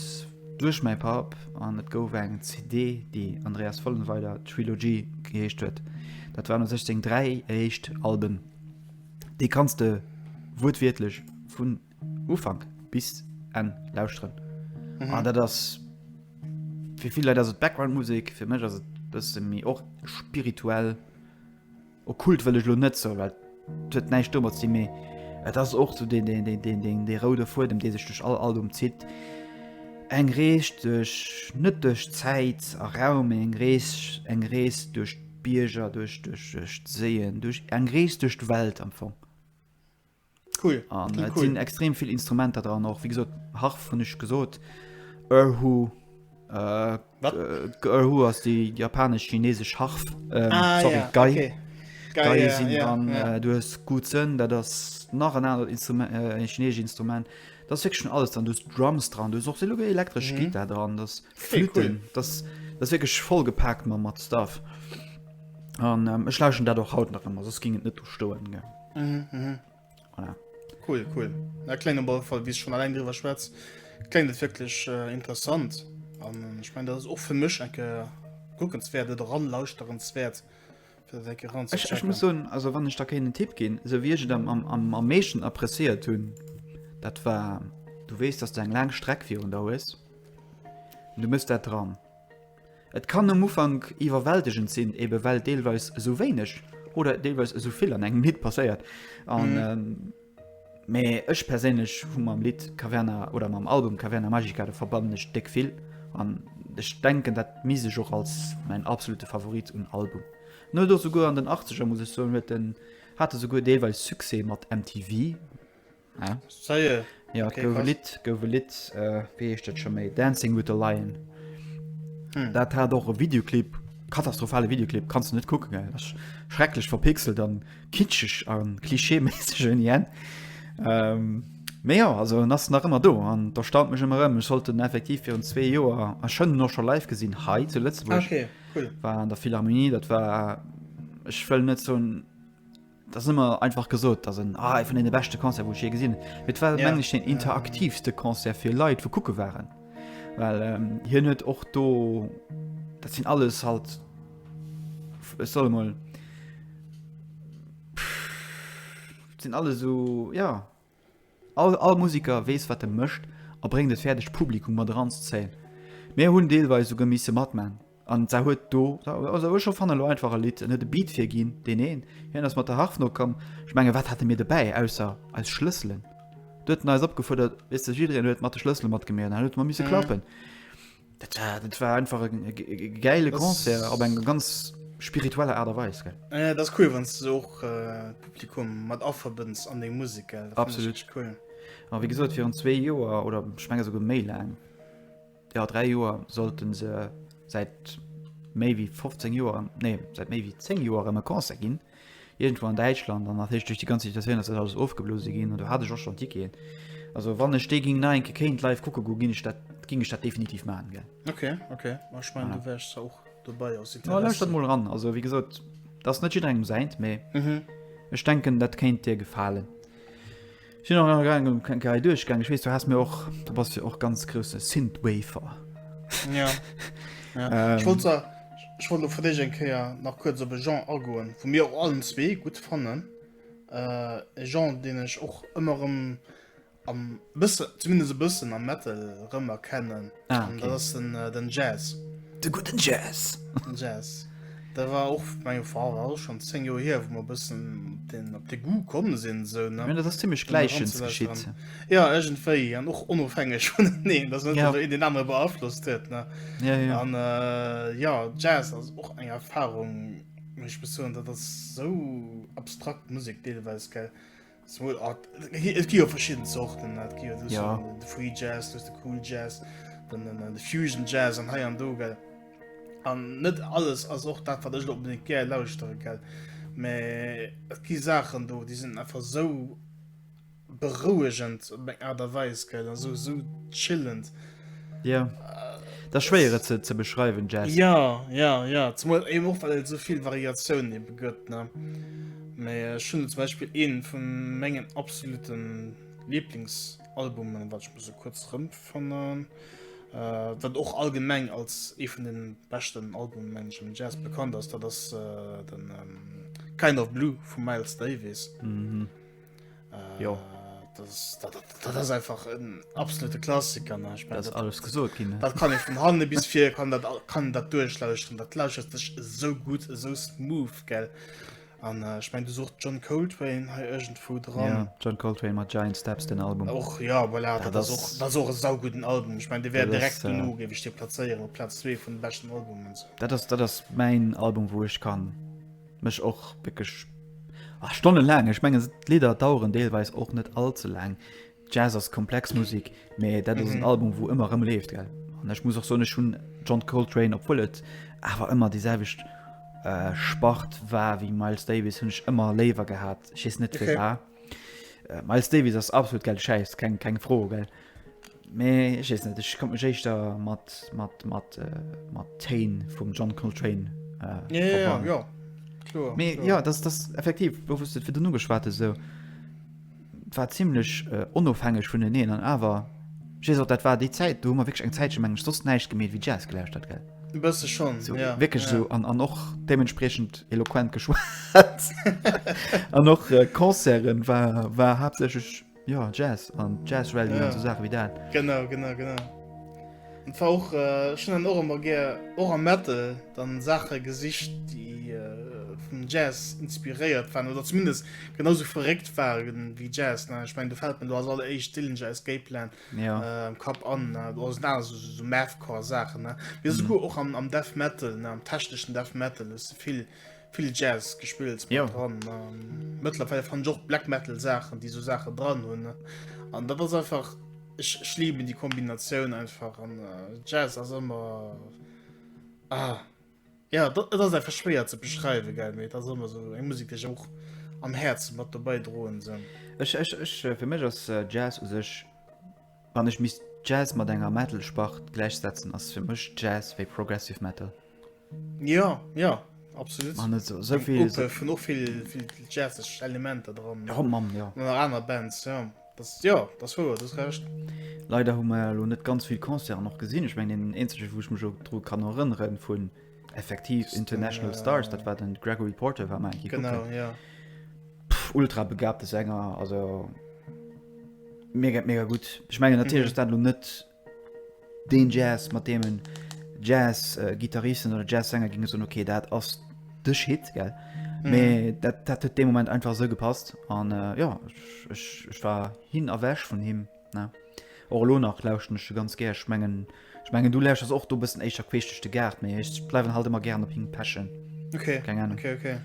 duerch mäi Papp an et gouf eng CD, déi Andreas Vollenweider Trilogy geheescht huet. Dat waren u sech seng dräi éischt Alben. Déi kanns de wuertwiertlech vun. Ufank bis en lausren mhm. dat ass fir viel dat Backgroundmusik fir mech ass bësse mi och spirituell o kult wëlech lo net zo wat huet neich stummer ze méi Et ass och zu den den den den den de roude fuer dem dee sech duch all Album zitt eng Rees duch net duch Zäit a Raum eng Rees eng Rees duch Bierger duch duch duch séien duch eng Rees duch d'Welt am Fong. Cool. An okay, äh, cool. sinn extrem vill Instrumenter dran och wie gesot Harf hunn ech gesot Erhu äh, äh, Erhu ass déi japanesch chineesesch Harf ähm, ah, sorry, ja, Gei. Okay. Gei, ja, sinn ja, an ja. Äh, du hues gut sënn, dat ass nach en anert Instrument äh, en chineesch Instrument. Dat fik schon alles an dus Drums dran, du och se lo elektrisch mhm. Gita dran das Flüten, okay, cool. das, das wirklich voll gepackt man mat Stuff. An ähm, ech laschen dat och haut nach ëmmer, sos ging et net stoen. Ge. Mhm, mhm. Voilà. Cool, cool. Na, klein aber Fall, wie schon allein drüber schwätzt, klingt das wirklich äh, interessant. Und ähm, ich meine, das ist auch für mich ein guckenswert oder ranlauschterenswert. Ich, ich muss sagen, also wann ich da keinen Tipp gehen, so wie ich dann am, am, am meisten appréciiert tun, das war, du weißt, dass du eine lange Strecke für und da ist. Und du musst da dran. Et kann um Ufank iwwerwältegend sinn, eben well deelweis esou wéineg oder deelweis esou vill an engem Lidd passéiert. An, ähm, mee ech perséinlech hu mam Lidd Caverna oder mam Album Caverna Magica, do verbannen ech déck vill an ech denken, dat misst ech och als mäin absolute Favorit un Album en. Huet och souguer an den Achtzeger, muss ech soen, huet en, hat e souguer deelweis Succès mat MTV, Ah. Ça y est. Ja, okay, gouf Lied, gouf Lied, äh, wie hecht dat schon méi? Dancing with the Lion. Hm. Dat hat och e Videoclip, katastrophale Videoclip, kannst du net kucken, gell? Das schrecklech verpixelt an kitschech an klischeeméisseg en jen. Ähm, méi ja, also en ass nach ëmmer do an da staunt mech ëmmer ëm. Ech sollt den effektiv virun zwee Joer a schënnen och schon live gesinn hei zu Lëtzebuerg. Okay, cool. War an der Philharmonie, dat war ech wëll net so 'n Dat ass ëmmer einfach gesot, dat ass en ah, ee vun deene beschte Concert, wou ech jee gesinn hunn. Mee et war Ja. menglech deen interaktiivste Concert fir Leit, wou kucke waren. Well ähm, hien huet och do, dat sinn alles halt, f- ech soll emol, pff, dat sinn alles esou, ja, All Museker weess wat e mécht a bréngt et fäerdeg d'Publikum mat eran ze zéien. Mir hunn deelweis souguer misse matman an et huet do also ech fannen elo einfach e Lidd, en huet e Beat virginn, deen een, hien ass mat der Harf nokomm, ech mengen wat hate mir dobäi ausser eis Schlësselen, do huet en eis opgefuerdert, weess de, jiddereen huet mat de Schlëssele matgemeet an dann huet mer misse klappen. Dat war, dat war einfach e geile Concert op eng ganz spiritueller Aart a Weis. Äh, dat cool wann du och äh, Publikum mat afferbënns an deng Musik absolut cool. A wie gesot fir an zwee Joer oder schmenge so go méi lang ja 3 Joer sollten se seit méi wie 15 Joer nee seit méi wie 10 Joer ëmmer Konse ginn. Irgendwou an Däitschland an nach durch die ganze Situation ass dat alles ofgeblose ginn an do hat ech och schon Ticketen. Also wann ech dee ging na enke kéint live kucke go ginn ech dat ging ech dat definitiv machen gell. Okay okay ma ich mein ja. du wärst auch dobei aus ja, dat mol ran also wie gesot das net jiddrengem seint mee mhm. ech denken dat kéint dir gefalen. Sin och nach grad eng kleng Rei duerchgaangen, ech weess du has mir och, du bass jo och ganz grousse Synthwafer. Ja, ja. Ech wollt se, ech wollt lo fir déch eng Kéier nach kuerz op e Genre agoen, wou mir och allen zwee gutt fannen, e Genre deen ech och ëmmer erëm am bësse, zumindest e bëssen am Metal erëm erkennen. Ah, okay. Dat ass den, äh, den Jazz. De guten Jazz. Den Jazz. Da war och meng Fra war schon 10 Joer hier, wo mer bëssen den op de Gu kommen sinn so ne. Ja, dat ass ziemlich gleichens geschitt. Ja egentwéi an och onofhängeg vun neen, dat net ja. den aner beaflosst huet ne. Ja, ja. An äh, ja Jazz ass och eng Erfahrung mech besoen, dat ass so abstrakt Musik deelweis gell. Small Art. Et gi jo verschidden Sorten dat gi ja. de Free Jazz, de cool Jazz, den, den, den de Fusion Jazz an hei an do gell. An net alles ass och dat wat ech op den Ger lauschtere gell. Me et gi Saachen do, die sind einfach so berouegend op eng Art a Weis gell an so so chillend. Ja. Dat schwéier et ze, ze beschreiwen Jazz. Ja ja ja zumal eben och well et sovill Variatiounen ebe gëtt ne. Mei äh, schon zum Beispiel een vu mengen absoluten Lieblingsalbumen, wat ich muss so kurz rëm fannen, äh, wat och allgemeng als ee vun den beschten Albumen mensch im Jazz bekannt ass, dat ass äh, den ähm, Kind of Blue vu Miles Davis. Mhm. Äh, jo. Das, das, das, das einfach en absolute Klassiker ne? Ich mein, das, das alles gesot gin Dat kann ich vum Hande bis fir kann dat kann dat duerchlauuschten dat lauscht dech so gut so smooth gell an äh, ich mein du sucht John Coltrane ha irgend vu dran ja, John Coltrane mat Giant Steps den Album och ja voilà, ja, das och das och sau guten Album ich mein de werden direkt äh, nu gebe ich dir plaieren op Platz 2 vun bestenchten Album dat das dat das mein Album wo ich kann Mech och wierklech ah, stonnelaang. Ech mengen d'Lidder daueren deelweis och net all ze laang. Jazz ass komplex Musik, mee dat ass en Album, wou ëmmer rëm leeft gell. An ech muss och soen ech hunn John Coltrane, obwuel et awer ëmmer déi selwecht Spart war wéi Miles Davis, hunn ech ëmmer léiwer gehat. Ech weess net firwat. Miles Davis ass absolut gäll Schäiss, keng keng Fro gell. Mee ech weess net, ech konnt mech éischter mat, mat, mat, mat Téin vum John Coltrane verbannen. Jo, kloer. Mee jo, dat ass effektiv, wou s de et virdrun ugeschwat hues, esou, et war zimlech onofhängeg vuneneen an awer, ech weess och, dat war déi Zäit, do hu mer wierklech eng Zäitche, mengen ech, soss näischt gemeet wéi Jazz gelauschtert, gell? E bësse schonn, jo. Esou wierklech esou an och deementspriechend eloquent geschwat. An och Concerte war haaptsächlech Ja Jazz an Jazz Rally ja. so Sache wie dat. Genau genau genau. Und war och äh, schon an Ormer ge och am Mette dann Sache gesicht die äh, vum Jazz inspiriert waren oder zumindest genauso verregt waren wie Jazz ne? ich mein du fällt mir du hast alle eich Dillinger Escape Plan ja. äh, Kap an äh, du hast na so, so, so Mathcore Sachen ne? wir mhm. sogar och am, am Death Metal ne? am technischen Death Metal ist viel vill Jazz gespillt jo. dran Mëttlerweile fan Joch Black Metal Saachen, déi so Saache dran hunn an dat ass einfach schlieben die Kombinatioun einfach an äh, Jazz ass ëmmer ah, ja dat ass einfach schwéier ze beschreiwe ge méi dat ëmmer so eng Musik dech och am Herz mat dobäi droen sinn. Ech ech ech äh, fir mech ass äh, Jazz u sech. Wann ech misst Jazz mat enger Metal Spart gläichsetzen ass fir mech Jazz wéi Progressive Metal. Jo jo absolut an net sou vill vun och vill jazzeg Elementer dran jo mam jo nach aner Bands jo dat jo dat wouer dat recht. Leider hu mer elo net ganz vill Concerten och gesinn ech meng deen eenzege wou ech mech och dru kann erënneren vun effektiv international äh, stars dat war den Gregory Porter war mein genau ja Pff, ultra begabte Sänger also mega mega gut ich meine natürlich mhm. dann net den Jazz mat demen Jazz äh, Gitarristen oder Jazz Sänger ging so okay dat ass de shit ge mhm. dat, dat dem Moment einfach so gepasst an äh, ja ich, ich, ich war hin erwäsch von him Ne? Och elo nach lauschten ech se ganz gär. Ech mengen, ech mengen du lauschters och do bëssen éischter queesch duerch de Gaart, mee ech bleiwen halt ëmmer gären op him pechen. Okay. Keng Ahnung. Okay, okay.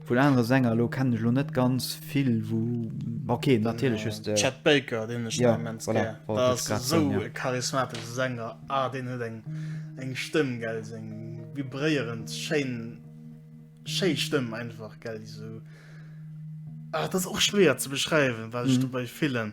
Vu den anere Sänger elo kennen ech elo net ganz vill, wou okay, natierlech just de. Chet Baker, deen ech Ja, ja, immens voilà, gär. wollt Dat ech ass grad esou soen, ja. e charismatesche Sänger. Ah, deen huet eng, eng Stëmm, gell, seng vibréierend, schéin, schéi Stëmm einfach, gell, déi sou. Ah, dat ass och schwéier ze beschreiwen, wat ech Mhm. dobäi fillen.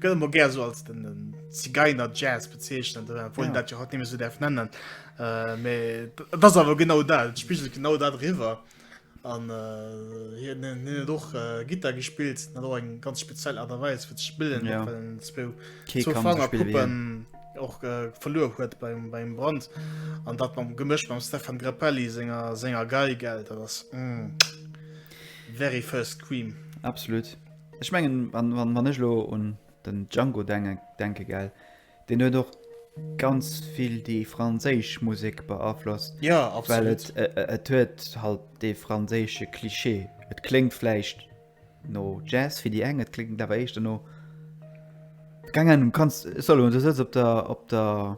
Gëlle mo gär so als den Zigeiner Jazz bezeechnen, wo ja. dat jo hat nimme so derf nennen. Äh, me dat awer genau dat spiegelt genau dat riwer an äh, doch äh, Gitter gespielt na do eng ganz speziell Aderweis fir spillen ja. Puppen och äh, verlor huet beim, beim Brand an dat man gemëscht beim Stefan Grappelli Sänger Sänger geil geld das mm, very first Queen absolutut. Ech mengen, wann, wann, wann ech lo un den Django dengen, denke gell, deen huet och ganz vill déi franséisch Musek beaflosst, Ja, well absolut. et, e- e- et huet halt dee franséische Klischee. Et kléngt vläicht no Jazz fir déi eng, et kléngt awer éischter no, keng Ahnung, du kanns, Solo, du sëtz op der, op der.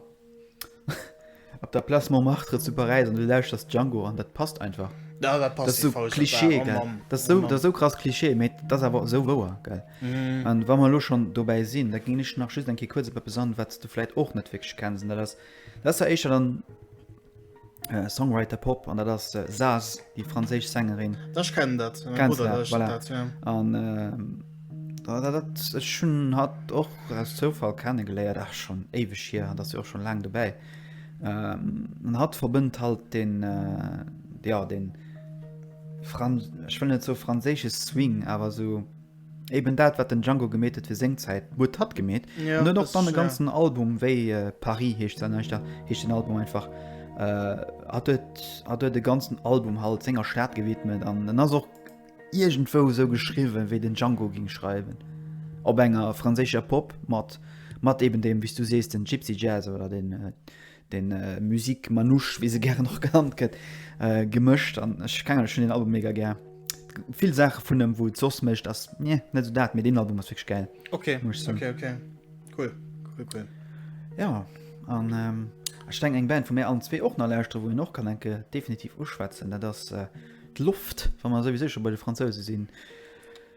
Op der Place Montmartre zu Paräis an du lauschters Django an dat passt einfach. Ja, dat passt. Dat ass esou Klischee, gell? Oh dat ass esou, dat ass esou krass Klischee, mee dat ass awer esou wouer, gell? Mm. An wa mer elo schonn dobäi sinn, da géing ech nach just eng Kéier kuerz op eppes an, wat s du vläicht och net wierklech kenns. An dat ass, dat ass da éischter dann. äh, Songwriter Pop an dat ass äh, Saz, die franséisch Sängerin. Ech kennen dat. Mein Kennst Bruder du, lauschtert voilà. dat, ja. An ähm, da- da- dat ech schon hat och aus Zoufall kennegeléiert, ach schon éiweg hier, dat se och schon laang dobäi. Ähm, an hat verbënnt halt den äh, ja den Fran ech will net so franséische Swing, awer so Eben dat wat den Django gemeet huet fir seng Zäit huet hatt gemeet an huet och dann e ganzen Album wéi Paris heescht se näischt da heescht den Album einfach hat huet hat huet de ganzen Album halt senger Stad gewidmet an en ass och iergendwou esou geschriwwen wéi den Django ging schreiwen op enger franséischer Pop mat mat eben deem wéi s du sees den Gypsy Jazz oder den de Musique Manouche, wéi se gären och genannt gëtt, gemëscht an ech keng schon den Album mega gär. Vill Sache vun dem, wou et sos mécht ass nee, net so dat, mee den Album ass wéch gäil. Okay, okay, okay. Cool, cool, cool. Ja, an ähm, ech denken eng Band, wou mir allen zwee och nach lauschtere, wou een och kann enke definitiv uschwätzen, dat ass äh, d'Loft, wa mer souwisou scho bei de Fransouse sinn.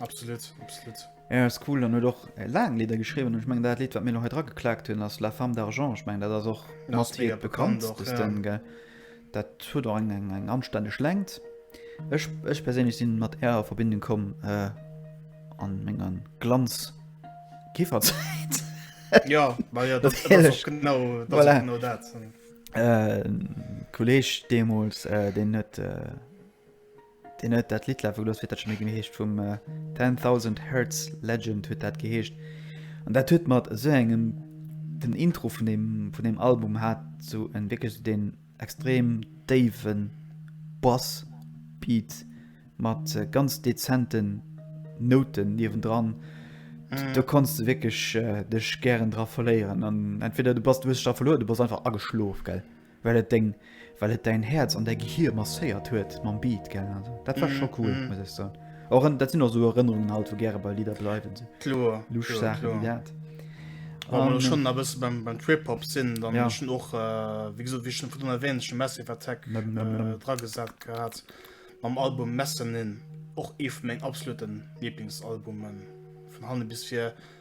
Absolut, absolut. Ja, ass cool an huet och laang Lidder geschriwwen. Ech meng dat Lidd, wat mir lo hei dra geklaakt hunn, ass La femme d'argent. Ech meng dat ass och mat hie bekannt, dës Dënn, gell. Dat huet och eng, eng, eng anstänneg Längt. Ech, ech perséinlech si mat Är a Verbindung komm an menger Glanz-Kifferzäit. Jo, ma jo, dat ass och genau, dat ass och genau dat. Kolleeg deemools, deen huet. Deen huet dat Lidd lafe gelooss, wéi huet dat scho méi genee heescht, vum Ten Thousand Hertz, Legend huet dat geheescht. An dat huet mat esou engem, den Intro vun deem, vun deem Album hat esou en, wierklech esou deen extrem déiwe Bass-Beat mat ganz dezenten Nouten niewendran, do konns de wierklech dech gären dra verléieren. An entweder du bass, du hues dech dra verluer, oder du bass einfach ageschlof, gell. Well et deng, well et däin Häerz an däi Gehir masséiert huet mam Beat, gell? Also dat war scho cool, muss ech soen. Och en, dat sinn och esou Erënnerungen halt, wou gäre bei Lidder bleiwen, sou Kloer, lusch kloer, Saache wéi kloer. dat. Wa mer lo An, schonn a bësse beim, beim Trip-Hop sinn, dann ja. ech hunn och, wéi gesot, wéi ech schon virdrun erwähnt, ech hu Massive Attack Mem, mem, mem. äh, dragesat gehat mam Album Mezzanine, och ee vu mengen absoluten Lieblingsalbumen, vun hanne bis vir.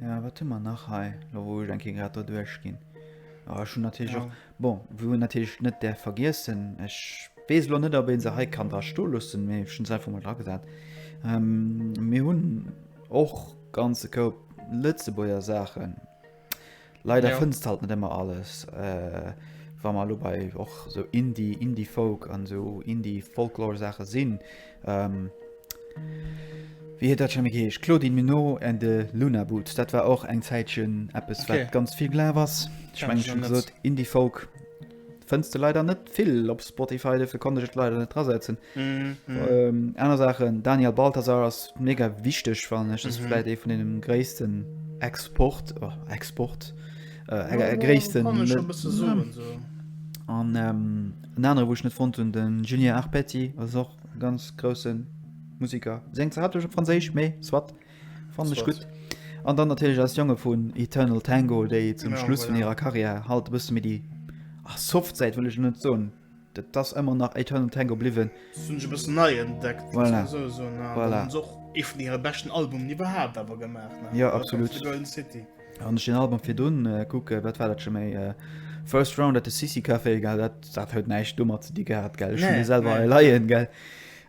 Ja, wat hun mer nach hei? Lo wou ech eng Kéier grad do duerch ginn. Oh, ech hun natierlech Ja. och Bon, wou en natierlech net däerf vergiessen, ech weess lo net, ob ee se hei kann dra sto loossen, mee ech hunn se einfach mol dra gesat, mir hunn och ganze Koup Lëtzebuerger Saachen. Leider fënnst halt net ëmmer alles. Wa mer lo bei och sou Indie, Indie-Folk an sou Indie-Folklore-Saache sinn, wéi huet dat scho méi geheescht? Claudine Muno and the Luna Boots, dat war och eng Zäitchen eppes, wat ganz vill gelaf ass. Ech mengen, ech hunn gesot Indie-Folk. fënns de leider net vill op Spotify, defir konnte ech et leider net drasetzen. Mhm. Ähm, aner Sachen, Daniel Balthasar ass mega wichteg, wann ech das Mhm. vielleicht ee vun denem gréissten Export, oh, Export, äh, Ja, äh, ja, gréissten, kann ich schon ein bisschen suchen, so. an ähm, en anere wo ich net fond hun den Julien Arpetti ass och ganz groussen Musiker seng ze hat op Franséisch méi swat Fannen ech gudd. An dann natierlech eis Jonge vun Eternal Tango déi zum Schluss vun hirer Carrière halt e bësse méi déi soft Säit wëll ech elo net soen, et ass ëmmer nach Eternal Tango bliwwen. Dës hunn ech e bëssen nei entdeckt, muss ech esou soen. An dann hunn se och ee vun hire beschten Albumen iwwerhaapt awer gemaach, ne? Jo, absolut. The Golden City. Wann ech den Album virdrun kucken, wat war dat scho méi, First Round at the City Café, gell, dat huet näischt domat ze di gehat, gell, ech hunn dee selwer hei leien, gell.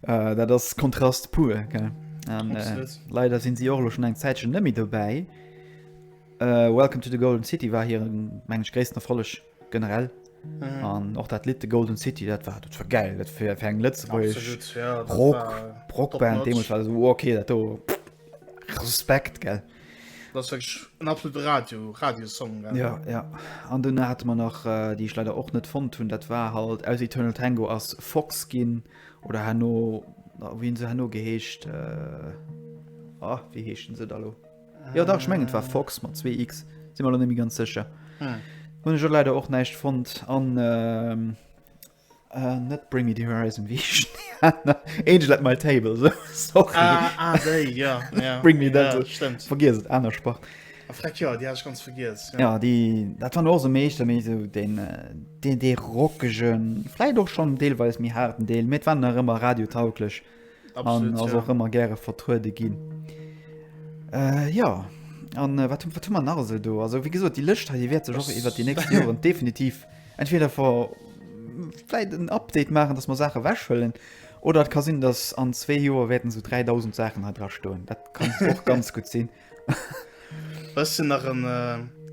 Uh, dat ass Kontrast pur gell? An, äh, leider sinn si och schon eng Zäitchen nëmi dobäi. Äh, Welcome to the Golden City war hier mengg gréissten Erfolleg generell. Mhm. An och dat Lied de Golden City dat war dat war geil dat fir eng Lëtzebuerg Rockband deemols war so okay dat do Respekt gell. Dat en absolut Radio Radiosong Ja ja an dunn hat man nach äh, Dii ech leider och net fonnt hunn, dat war halt aus Eternal Tango ass Fox ginn. Oder herno, oh, wien se herno geheescht, äh, oh, wie heeschten se da lo? Äh, ja, da ich mengen, war Fox mat 2x, si mal nemi ganz sécher. Hm. Hun jo leider och neicht fond an äh, äh, net bring me the horizon wie Angel at my table so. Sorry. Ah, ah, they, ja, ja. bring me ja, that, stimmt. Vergiss et, aner Sport. A Freck, jo, déi hat ech ganz vergiess. Jo. Ja, déi, dat waren och sou meeschter méi sou den, äh, den dee rockegen, vläit och schonn deelweis méi haarden Deel, mee et waren nach ëmmer radiotauglech an Absolut, ass ja. och ëmmer gäre vertruede ginn. Äh, ja, an äh, wat hu wat hu mer nach esou do? Also wéi gesot, déi Lëscht hei déi wäert sech och iwwer déi nächst Joren definitiv entweder ver vläit en Update maachen, dass mer Saache wechhëllen oder et ka sinn, dass an zwee Joer wäerten sou 3.000 Saachen hei dra stoen. Dat kann och ganz gutt sinn. Ech sinn nach en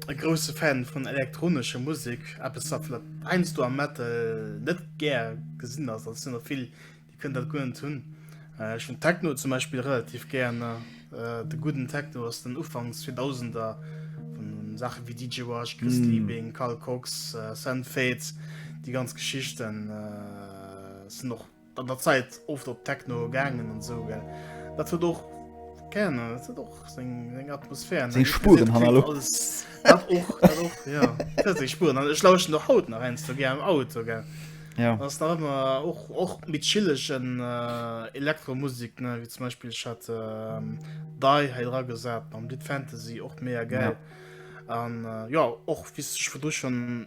e grousse Fan vun elektronescher Musek, eppes wat vläicht heiansdo am Metal net gär gesinn ass. Dat sinn der vill, déi kënnen dat guer net hunn. Äh, ech hunn Techno zum Beispill relativ gär. Äh, de gudden Techno aus den Ufanks 2000er, vun Saache wéi DJ Wash, Chris mm. Liebing, Carl Cox, äh, Sam Fate, déi ganz Geschichten äh, sinn och An der Zäit oft op Techno gaangen an sou gell. Dat huet och Gerne, dat huet och seng seng Atmosphär. Seng Spuren han elo. Dat och, dat och, ja. Dat huet seng Spuren. An ech lauschten och haut nach heiansdo gär am Auto, gell. Ja. Ass nach ëmmer och, och méi chillegen Elektromusik, ne, wéi zum Beispill ech hat Dai hei dra gesat mam Lidd Fantasy, och mega gäil. An jo, och wéi s de scho virdu schonn.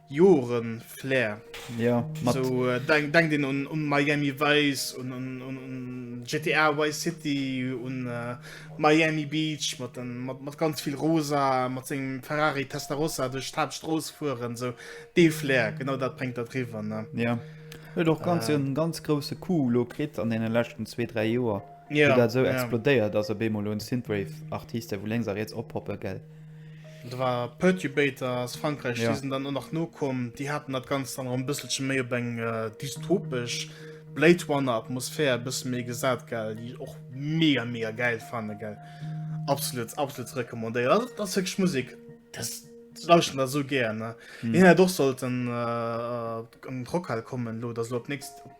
Joren Flair. Jo, mat. Sou denkt een un Miami Vice, un GTA Vice City, un Miami Beach, mat ganz vill Rosa, mat sengem Ferrari Testarossa duerch d'Haaptstrooss fueren. Sou dee Flair, genau dat bréngt dat riwwer, ne? Jo. Huet och ganz e ganz grousse Coup elo kritt an deene leschten zwee, dräi Joer, wou dat esou explodéiert ass op eemol un Synthwave Artiste wou lénks a riets oppoppen, gell? Da war Perturbator aus Frankreich, ja. die sind dann nach no kommen, die hatten dat ganz dann ein bisschen méi op eng äh, dystopisch Blade Runner Atmosphär bis méi gesat geil, die och mega mega geil fane geil. Absolut absolut recommandéiert das wirklich Musik das lauschen da so gerne. Hm. Ja, doch sollten äh, äh, Rockhall kommen lo, das lo nächst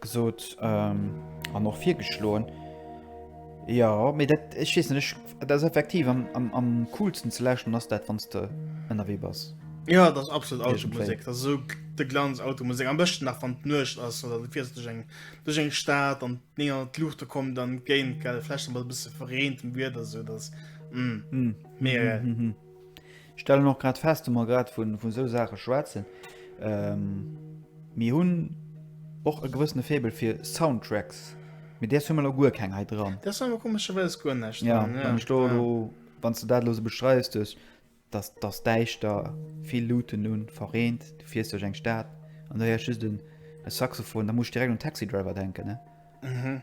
gesot ähm, an och virgeschloen. Ja méi dat ech schiessen ech dat effektiv am, am, am coolsten ze lächen ass dat wann de ënnerwee bass. Ja dat absolut Automusik dat so de Glanz Automusik am bëchten nach van nuecht ass oder du fiers duch eng duch eng Staat an ne an d'Luuchte kom dann géint gellflechten wat bësse verreenten Wierder so dass mm. Mm. Mega geil. Mm -hmm. Ech stellen och grad fest, wa mer grad vun esou Saache schwätzen, mir hunn och e gewëssene Faible fir Soundtracks, mee deers hu mer elo guer keng hei dran. Deers hu mer komescherweis guer näischt dran, jo. Jo, wann s de dat elo esou beschreiws, duerch datt datt däischter, vill Luuten un, verreent, du fiers duerch eng Stad an du héiers just e Saxophon, da muss ech direkt un Taxi Driver denken, ne?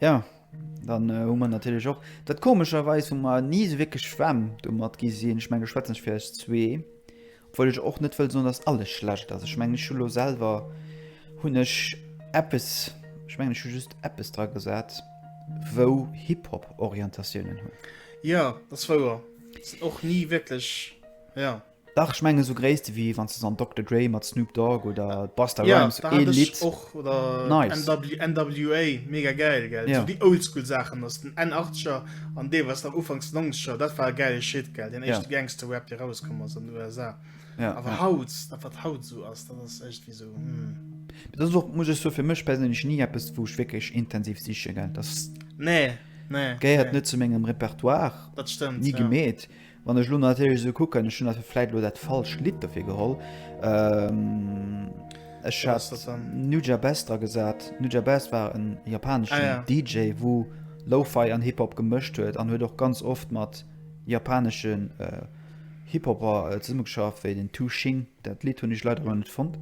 Ja, dann hu mer natierlech och dat komescherweis hu mer ni esou wierklech Schwämm domat gi sinn. Ech menge schwätzen ech fir eis zwee, obwuel ech och net wëll soen, datt alles schlecht ass. Ech mengen ech hu lo selwer hunn ech eppes, ech mengen ech hu just eppes dra gesat, wou Hip-Hop-Orientatiounen hunn. Jo, dat ass wouer. Sinn och ni wierklech, jo. Dach ech menge sou Gréisste wéi wann se an Dokter Dre mat Snoop Dogg oder Busta Rhymes ee Lidd och oder nice. NWA mega gäil gell yeah. déi oldschool Saachen ass den en 80er an dee was nach ufangs 90er dat war gäile Shit gell den echte yeah. Gangster Rap de rauskomm ass an den USA yeah. awer yeah. haut dat wat haut sou ass dat ass echt wie sou mm. Dat och muss ech so fir mech persinnlech nie eppes wouch wéckeg intensiv siche gell das nee nee, geéiert nee. net zu mengem Repertoire dat stimmt nie ja. gemet. Wann ech elo natierlech esou kucken, ech hunn ass vläit elo dat falscht Lidd dofir geholl. Ech hat Nujah Best dra gesat. Nujah Best war en japaneschen ah, ja. DJ, wou Lo-Fi an Hip-Hop gemëscht huet an huet och ganz oft mat japaneschen äh, Hip-Hopper äh, zesummegeschafft, wéi den Tu Shing. Dat Lied hunn ech leider elo net fonnt.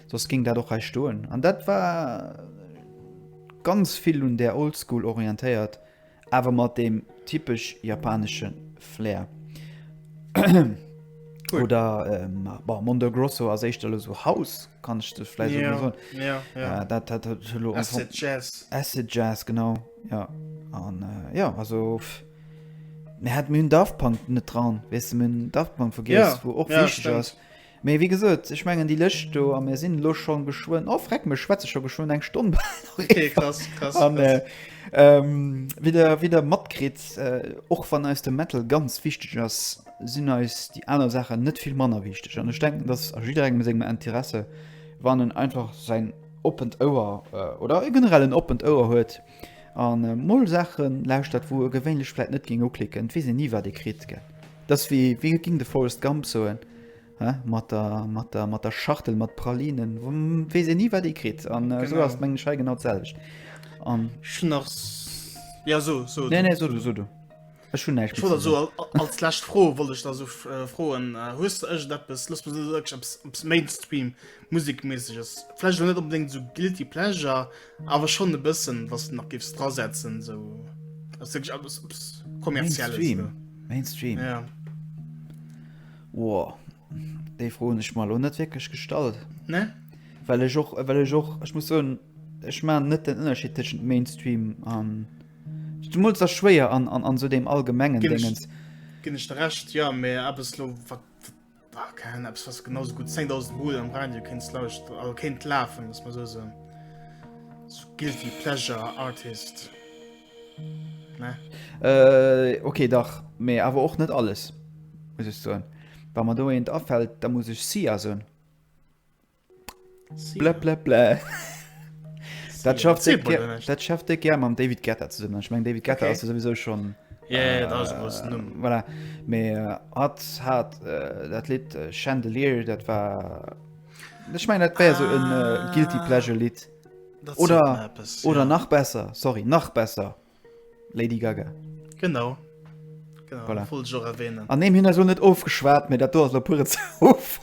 Soss ging dat och hei stoen. An dat war ganz vill un der Oldschool orientéiert. Awer mat deem typesch japanesche Flair. Cool. Oder ähm, bah, Mondo Grosso ass éischter lo so House, kann ich das vielleicht Ja, so soen. ja, ja. Ja, dat hat hat lo einfach- Acid Jazz. Acid Jazz, genau. Ja. An äh, ja, also. pff, Mir hat mir hunn Daft Punk net dran. Weißt du, mir hunn Daft Punk vergiss, Ja, wo och ja, wichteg stimmt. ass. Mee wéi gesot, ech mengen déi Lëscht do, a mir sinn elo scho geschwënn, oh freck mech, schwätze scho geschwënn eng Stonn bal eran. An wéi Der, wéi Der matkritt, och wann eis de Metal ganz wichteg ass, sinn eis déi aner Saachen net vill manner wichteg. An ech denken, dass a jidderengem sengem Interesse, wann en einfach säin oppent Ouer oder e generell en oppent Ouer huet, An mol Saachen lauschtert wou e gewéinlech vläit net géing uklicken, et weess een ni wat ee kritt gell. Et ass wéi, wéi géing de Forrest Gump soen, he mat der, mat der, mat der Schachtel mat Pralinen, weess een ni wat ee kritt. An esou ass et mengen ech hei genau d'selwecht. An. Ech hunn nach, jo so, so du. Nee, nee, so du, so du. Ech hunn näischt méi ze soen. Ech wollt also als lescht Fro wollt ech da so froen, hues de iergendeppes, looss mer sou ierg eppes Mainstream musekméisseges, vläicht elo net onbedéngt esou guilty pleasure, awer schonn e bëssen, wat s de nach géifs drasetzen, esou also wierklech eppes kommerzielles? Mainstream? Mainstream? Ja. Woa. Déi Fro hunn ech mer elo net wierklech gestallt. Ne? Well ech och, well ech och, ech muss soen, ech maachen net den Ënnerscheed tëschent Mainstream an. Zumools ass schwéier an, an, an esou deem allgemengen Déngens. Ginn ech der Recht, jo, mä eppes elo, wat, wat, keine Ahnung, eppes, wat s de genau esou gutt 10.000 Mol am Radio kéints lauschteren, also kéint lafen, looss mer esou soen. Esou guilty pleasure artist. Ok dach, mee awer och net alles muss ech soen. Wa mer do eent afält, da muss ech Sia soen. Blablablä. Dat schafft Zee Bulle Dir, näischt. dat schafft Dir gär mam David Guetta zesumme. Ech meng David Guetta Okay. ass jo souwisou schonn Ja, ja, dat ass e groussen Numm. Äh, voilà. Mee äh, hatt hat äh, dat Lidd äh, Chandelier, dat war. Ech meng, dat wär sou en äh, Guilty Ah. Pleasure Lidd. Oder, etwas, oder ja. nach besser, sorry, nach besser. Lady Gaga. Genau. genau voilà. Voll schon erwähnen. An dem hin so net ofgeschwert mir dat do der pure Zouf.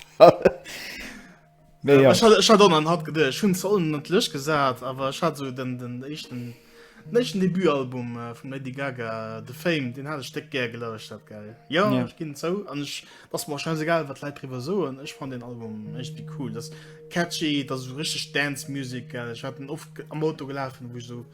Nee, ja. hat gedcht hun zollen lech gesat, aber hat so den den echten Den echten Debutalbum äh, vum Lady Gaga The Fame, den hat ech déck gär gelauscht dat geil. Jo Ja. ech ginn zou an ech ass mer scheiß egal wat Leit driwwer soen, ech fand den Album echt wie cool. Das catchy, dat so richtig Dance Music geil. Ech hat den oft ge- am Auto gelafen, wo ich so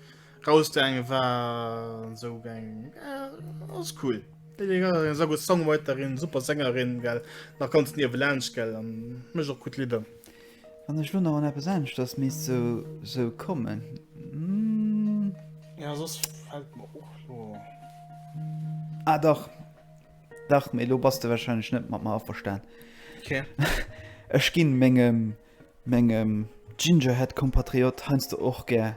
rausgaange war an so geng äh, ass cool. Lady Gaga eng sa gut Songwriterin, super Sängerin geil, nach ganz niewe laanscht gell an mécht och gut Lidder. Wann ech lo nach an eppes aneschters misst so so kommen. Mm. Ja sos fällt mir och lo. Ah dach. Dach méi lo bass de wahrscheinlech net mat mer averstan. Okay. Ech ginn mengem mengem Gingerhead Kompatriot heiansdo och gär.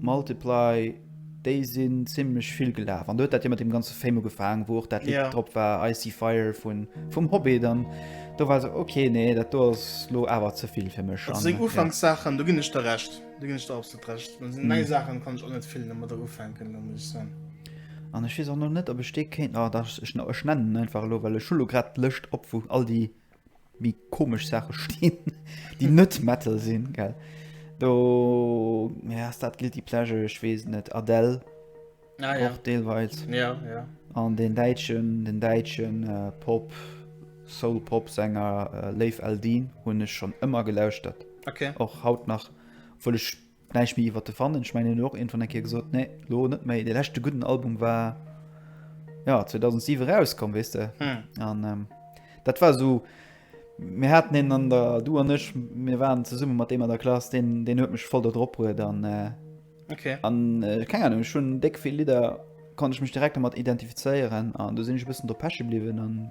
Multiply, déi sinn zimlech vill gelaf an do huet dat jo mat deem ganze Fame ugefaangen, wou och dat Lidd yeah. drop war, Icy Fire vun, vum Hobbit an do war se ok nee, dat do ass lo awer ze vill fir mech. Also seng Ufankssachen, ja. do ginn ech der Recht, do ginn ech der absolut Recht. An seng mm. nei Sachen kann ech och net vill nëmmer der ufänken, da muss ech soen. An ech weess och noch net, ob ech dee kéint, ah, da, ech, ech nennen einfach lo, well ech hu lo grad d'Lëscht op, wou all déi méi komesch Sache stinn, déi net Metal sinn, gell? Do, ja, ass dat Guilty Pleasure? Ech weess net. Adele. Ah, ja. Och deelweils. Ja, ja. An den Däitschen, den Däitschen äh, Pop, Soul-Pop-Sänger äh, Leif Eldin hunn ech schon ëmmer gelauschtert. Okay. Och haut nach, obwuel ech Näischt méi iwwert de fannen. Ech mengen hien huet och iergendwann eng Kéier gesot, nee, lo net méi. Dee leschte gudden Album war jo 2007 erauskomm, weess de. An dat war esou, mir haten een an der, du an ech, mir waren zesumme mat deem an der Klass, deen deen huet mech voll do drop bruet. An an keng Ahnung, ech hunn déck vill Lidder, konnt ech mech direkt domat identifizéieren an do sinn ech e bëssen do peche bliwwen.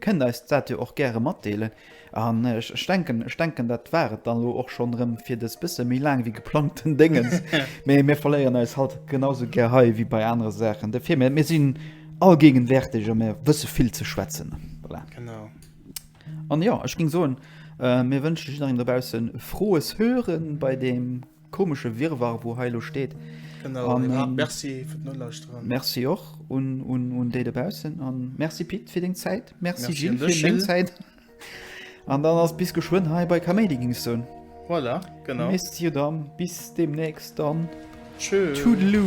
Kënnt eis dat jo och gäre matdeelen. An ech denken, ech denken, dat war et dann elo och schonn erëm fir dës bësse méi laang wéi geplangten Déngens. Mee mir verléieren eis halt genau esou gär hei wéi bei anere Saachen. Dofir, mir, mir sinn allgéigenwäerteg a mir wësse vill ze schwätzen. Voilà. Genau. An jo, ech géing soen, mir wënschen jidderengem dobaussen frohes Hören bei deem Komesche Wirrwarr wou hei elo steet. Genau, an ähm, merci fir d'Nolauschteren. Merci och un, un, un déi dobaussen an merci Pit fir deng Zäit. Merci, merci Gilles fir deng Zäit. An dann ass bis geschwënn hei bei Kaméidi gings soun. Voilà, genau. Merci dann, bis demnächst dann. Tschö. Toodaloo.